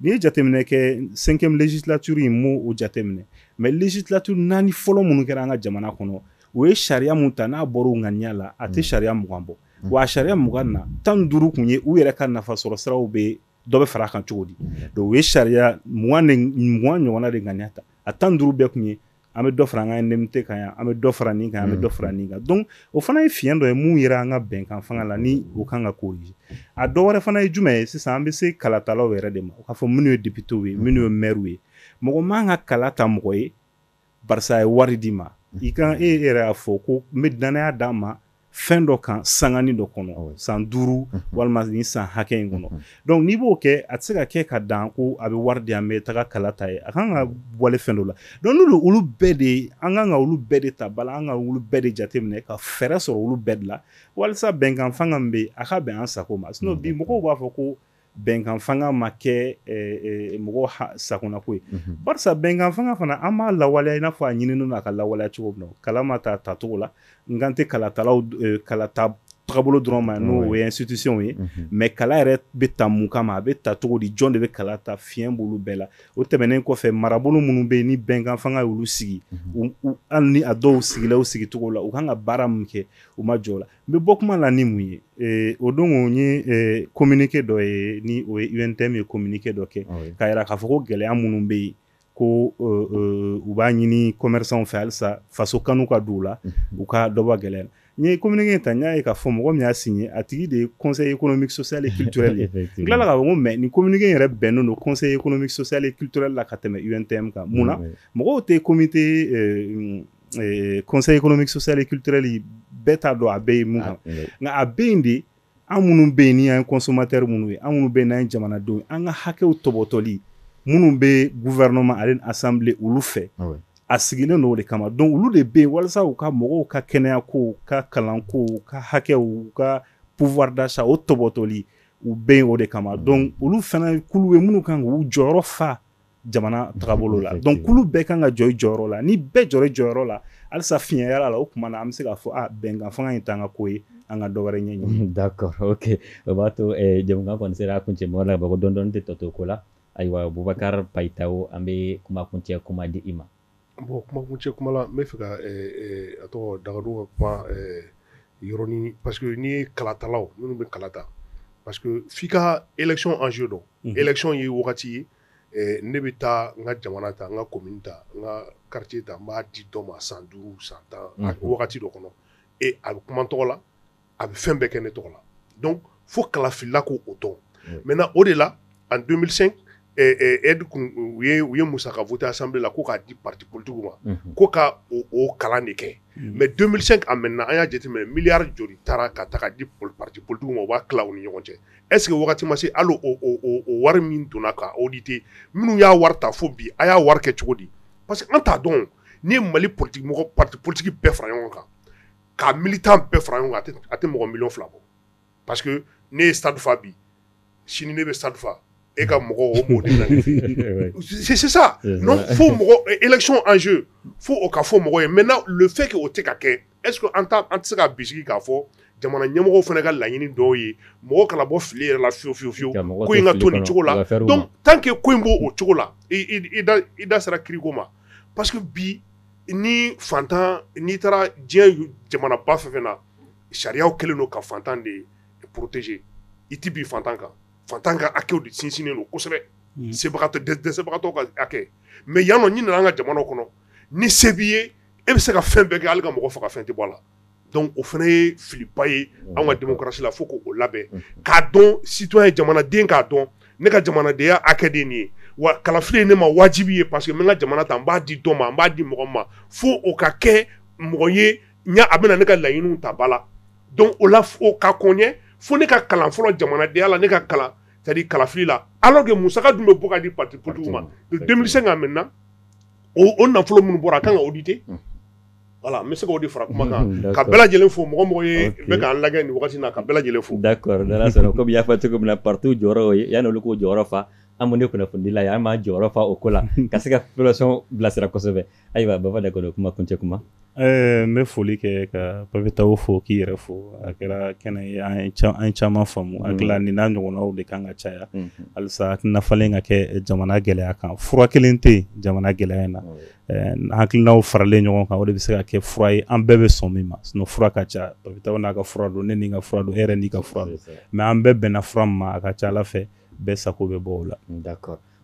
n'i ye jateminɛ kɛ cinquième législature in n m'o jateminɛ mais législature naani fɔlɔ minnu kɛra an ka jamana kɔnɔ u ye sariya min ta n'a bɔra u ŋaniya la a tɛ sariya mugan bɔ wa a sariya mugan na tan duuru kun ye u yɛrɛ ka nafa sɔrɔ siraw bɛ dɔ bɛ fara a kan cogo di donc u ye sariya mugan ɲɔgɔn de ŋaniya ta a tan duuru bɛɛ kun ye an bɛ dɔ fara an ka indemnité kan yan an bɛ dɔ fara nin kan an bɛ dɔ fara mm-hmm. nin kan donc o fana ye fiɲɛ dɔ ye mun yera an ka bɛnkan fanga la ni o kan ka corriger a dɔ wɛrɛ fana ye jumɛn ye sisan an bɛ se kalatalaw yɛrɛ de ma o k'a fɔ minnu ye députés ye minnu ye mm-hmm. maires ye mɔgɔ man ka kala ta mɔgɔ ye barisa a ye wari d'i ma i kan e yɛrɛ y'a fɔ ko n bɛ dannaya d'a ma fɛn dɔ kan sanganin dɔ kɔnɔ ah san duuru mhm. walima ni san hakɛ in kɔnɔ mhm. donc n'i b'o kɛ a tɛ se ka kɛ ka dan ko a bɛ wari di an bɛ taga kala ta a ye a kan ka wale fɛn dɔ la donc n'olu olu bɛɛ de ye an kan ka olu bɛɛ de ta bala an ka olu bɛɛ de jateminɛ ka fɛɛrɛ sɔrɔ olu bɛɛ de la walisa bɛnkan fanga min bɛ yen a ka bɛn an sago ma sinon bi mɔgɔw b'a fɔ ko bɛnkanfanga ma kɛ mɔgɔ sagonako ye barisa bɛnkanfanga fana an b'a lawaleya i n'a fɔ a ɲininen don a ka lawaleya cogo min kala ma ta a tacogo la n kan tɛ kalata kalata taabolo dɔrɔn ma n'o ye institution ye mais kala yɛrɛ bɛ ta mun kama a bɛ ta cogo di jɔn de bɛ kala ta fiɲɛ b'olu bɛɛ la o tɛmɛnen kɔfɛ marabolo minnu bɛ yen ni bɛnkanfanga y'olu sigi hali ni a dɔw sigila u sigicogo la u kan ka baara min kɛ u ma jɔ la n bɛ bɔ kuma la ni mun ye eh, o don o ye eh, communiqué dɔ ye ni o ye UNTM ye communiqué dɔ kɛ k'a jira k'a fɔ ko gɛlɛya minnu bɛ yen ko eh, u b'a ɲini commerçants fɛ halisa faso kanu ka don u la u ka dɔ bɔ gɛlɛya la n ye communiqué in ta n y'a ye k'a fɔ mɔgɔ min y'a signé a tigi de ye conseil économique social et culturel ye n tilala k'a fɔ ko mais nin communiqué in yɛrɛ bɛnnen don conseil économique social et culturel la ka tɛmɛ UNTM kan mun na mɔgɔw tɛ comité ee, conseil économique social et culturel bɛɛ t'a dɔn a bɛ yen mun kan nka a bɛ yen de an minnu bɛ yen ni an ye consommateur minnu ye an minnu bɛ yen n'an ye jamanadenw ye an ka hakɛw tɔbɔtɔli minnu bɛ gouvernement ale ni assemblée olu fɛ a sigilen don o de kama donc olu de bɛ yen walasa u ka mɔgɔw ka kɛnɛya ko u ka kalan ko u ka hakɛw u ka pouvoir d'achat o tɔbɔtɔli u bɛ yen o de kama donc olu fana kulu ye minnu kan k'u jɔyɔrɔ fa jamana tagabolo la donc kulu bɛɛ kan ka jɔ i jɔyɔrɔ la ni bɛɛ jɔra i jɔyɔrɔ la halisa fiɲɛ yel'a la o tuma na an bɛ se k'a fɔ a ah, bɛnkan fanga in t'an ka ko ye an ka dɔwɛrɛ ɲɛɲini d'accord ok o b'a to eh, jamukan kɔni sera a kuncɛ mɔgɔ la bako dɔɔni dɔɔni tɛ tɔ to ko la ayiwa bubakar payitawo an bɛ kuma kuncɛ kuma di i ma bon kuma kuncɛ kuma la n bɛ fɛ ka eh, eh, a tɔgɔ dagadu ka kuma yɔrɔni parce que n'i ye kalatalaw minnu bɛ kalata parce que f'i ka élection enjeu dɔn mhm. élection ye wagati ye ne bɛ taa n ka jamana ta n ka commune ta n ka quartier ta n b'a di dɔ ma san duuru san tan wagati dɔ kɔnɔ e a bɛ kuma n tɔgɔ la a bɛ fɛn bɛɛ kɛ ne tɔgɔ la donc fo kalafilila k'o dɔn maintenant o de la en 2005 aide u ye musaka voté assemblée la ko k'a di parti politiquew ma ko ka o kalan de kɛ mais 2005 à maintenant an y'a jateminɛ milliard joli taara ka taa di parti politiquew ma u b'a tila u ni ɲɔgɔn cɛ Est-ce que wagati ma se hali o o o o wari min donna ka auditer minnu y'a wari ta fo bi a y'a wari kɛ cogo di parce que an t'a dɔn o n'i ye Mali politique mɔgɔ parti politique bɛɛ fara ɲɔgɔn kan ka militant bɛɛ fara ɲɔgɔn kan a tɛ a tɛ mɔgɔ million 2 bɔ parce que ne ye stade fa bi sini ne bɛ stade fa e ka mɔgɔ o mɔgɔ de bɛ na ne fɛ yen c'est c'est ça non fo mɔgɔ élection enjeu fo o ka fɔ mɔgɔ ye maintenant le fait que o tɛ ka kɛ est-ce que an tɛ se ka bisigi k'a fɔ jamana ɲɛmɔgɔw fana ka laɲini dɔw ye mɔgɔ kana bɔ fili yɛrɛ la fiyewu fiye fiye ko in ka to nin cogo la donc tant que ko in b'o o cogo la i da sera kiriko ma parce que bi ni fantan n'i taara diɲɛ jamanaba fɛn fɛn na sariyaw kɛlen don ka fantan de protéger i tɛ bin fantan kan fantan ka hakɛw de sinsinnen don kosɛbɛ sebagatɔ dɛsɛbagatɔ ka hakɛ mais yan nɔ n'i nana an ka jamanaw kɔnɔ ni se b'i ye e bɛ se ka fɛn bɛɛ kɛ hali ka mɔgɔ faga fɛn tɛ bɔ a la donc o fana ye filiba ye an ka démocratie la fo k' o labɛn k'a dɔn citoyen jamanaden k'a dɔn ne ka jamanadenya hakɛ de ye nin ye wa kalafili ye ne ma wajibi ye parce que n bɛ n ka jamana ta n b'a di dɔ ma n b'a di mɔgɔ ma fo o ka kɛ mɔgɔ ye a bɛna ne ka laɲiniw ta ba la donc o la o ka ko ɲɛ fo ne ka kalan fɔlɔ jamanadenya la ne ka kalan c'est-à-dire kalafili la alors que musaka dun bɛ bɔ ka di parti politique ma deux mille cinq à maintenant o nafolo minnu bɔra a kan ka auditer voilà n bɛ se k'o de fara kuma kan ka bɛɛ lajɛlen fo mɔgɔ o mɔgɔ ye bɛ k' an lajɛ nin waati na ka bɛɛ lajɛlen fo d'accord n'ala sɔnna kɔmi i y'a fɔ cogo min na parti jɔyɔrɔ ye yanni olu k'o jɔyɔrɔ fa an min ye kunnafonidila ye an b'an jɔyɔrɔ fa o ko la ka se ka population bilasira kosɛbɛ ayiwa Baba Dakɔnɔ kuma kuncɛ kuma Eh, n bɛ foli kɛ ka papitaw fo k'i yɛrɛ fo a kɛra kɛnɛ ye an ye caman faamu hakili la nin n'a ɲɔgɔnnaw de kan ka caya halisa hakilina falen ka kɛ jamana gɛlɛya kan fura kelen tɛ jamana gɛlɛya in na eh, hakilinaw faralen ɲɔgɔn kan o de bɛ se ka kɛ fura ye an bɛɛ bɛ sɔn min ma sinon fura ka ca papitaw n'a ka fura don ne ni n ka fura don e yɛrɛ n'i ka fura don mais an bɛɛ bɛnna fura min ma a ka ca ala fɛ bɛɛ sago bɛ bɔ o la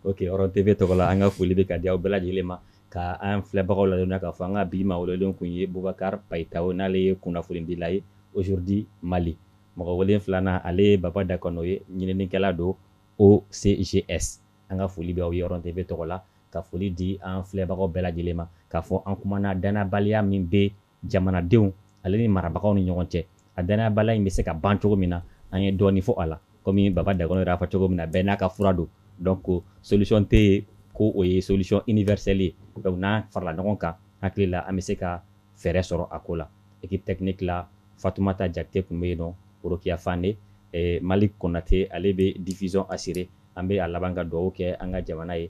ok Ɔrɔn TV tɔgɔ la an ka foli bɛ ka di aw bɛɛ lajɛlen ma Ka an filɛbagaw ladɔnniya k'a fɔ an ka bi maa welelenw kun ye Boubacar Payitaho n'ale ye kunnafonidila ye Aujourd'hui Mali. Mɔgɔ welelen filanan ale ye Baba Dakɔnɔ ye, ɲininikɛla don OCGS. An ka foli bɛ aw ye Ɔrɔn TV tɔgɔ la, ka foli di an filɛbagaw bɛɛ lajɛlen ma, k'a fɔ an kumana dannabaliya min bɛ jamanadenw ale ni marabagaw ni ɲɔgɔn cɛ a dannayabaliya in bɛ se ka ban cogo min na an ye dɔɔni fɔ a la komi Baba Dakɔnɔ yɛrɛ y'a fɔ cogo min na bɛɛ n'a ka fura don donc solution tɛ yen ko o ye solution universelle ye donc n'an farala ɲɔgɔn kan hakili la an bɛ se ka fɛɛrɛ sɔrɔ a ko la équipe technique la Fatumata Jakite tun bɛ yen nɔ Rokiya Fane Malik Konate ale bɛ diffusion assurer an bɛ a laban ka dugawu kɛ an ka jamana ye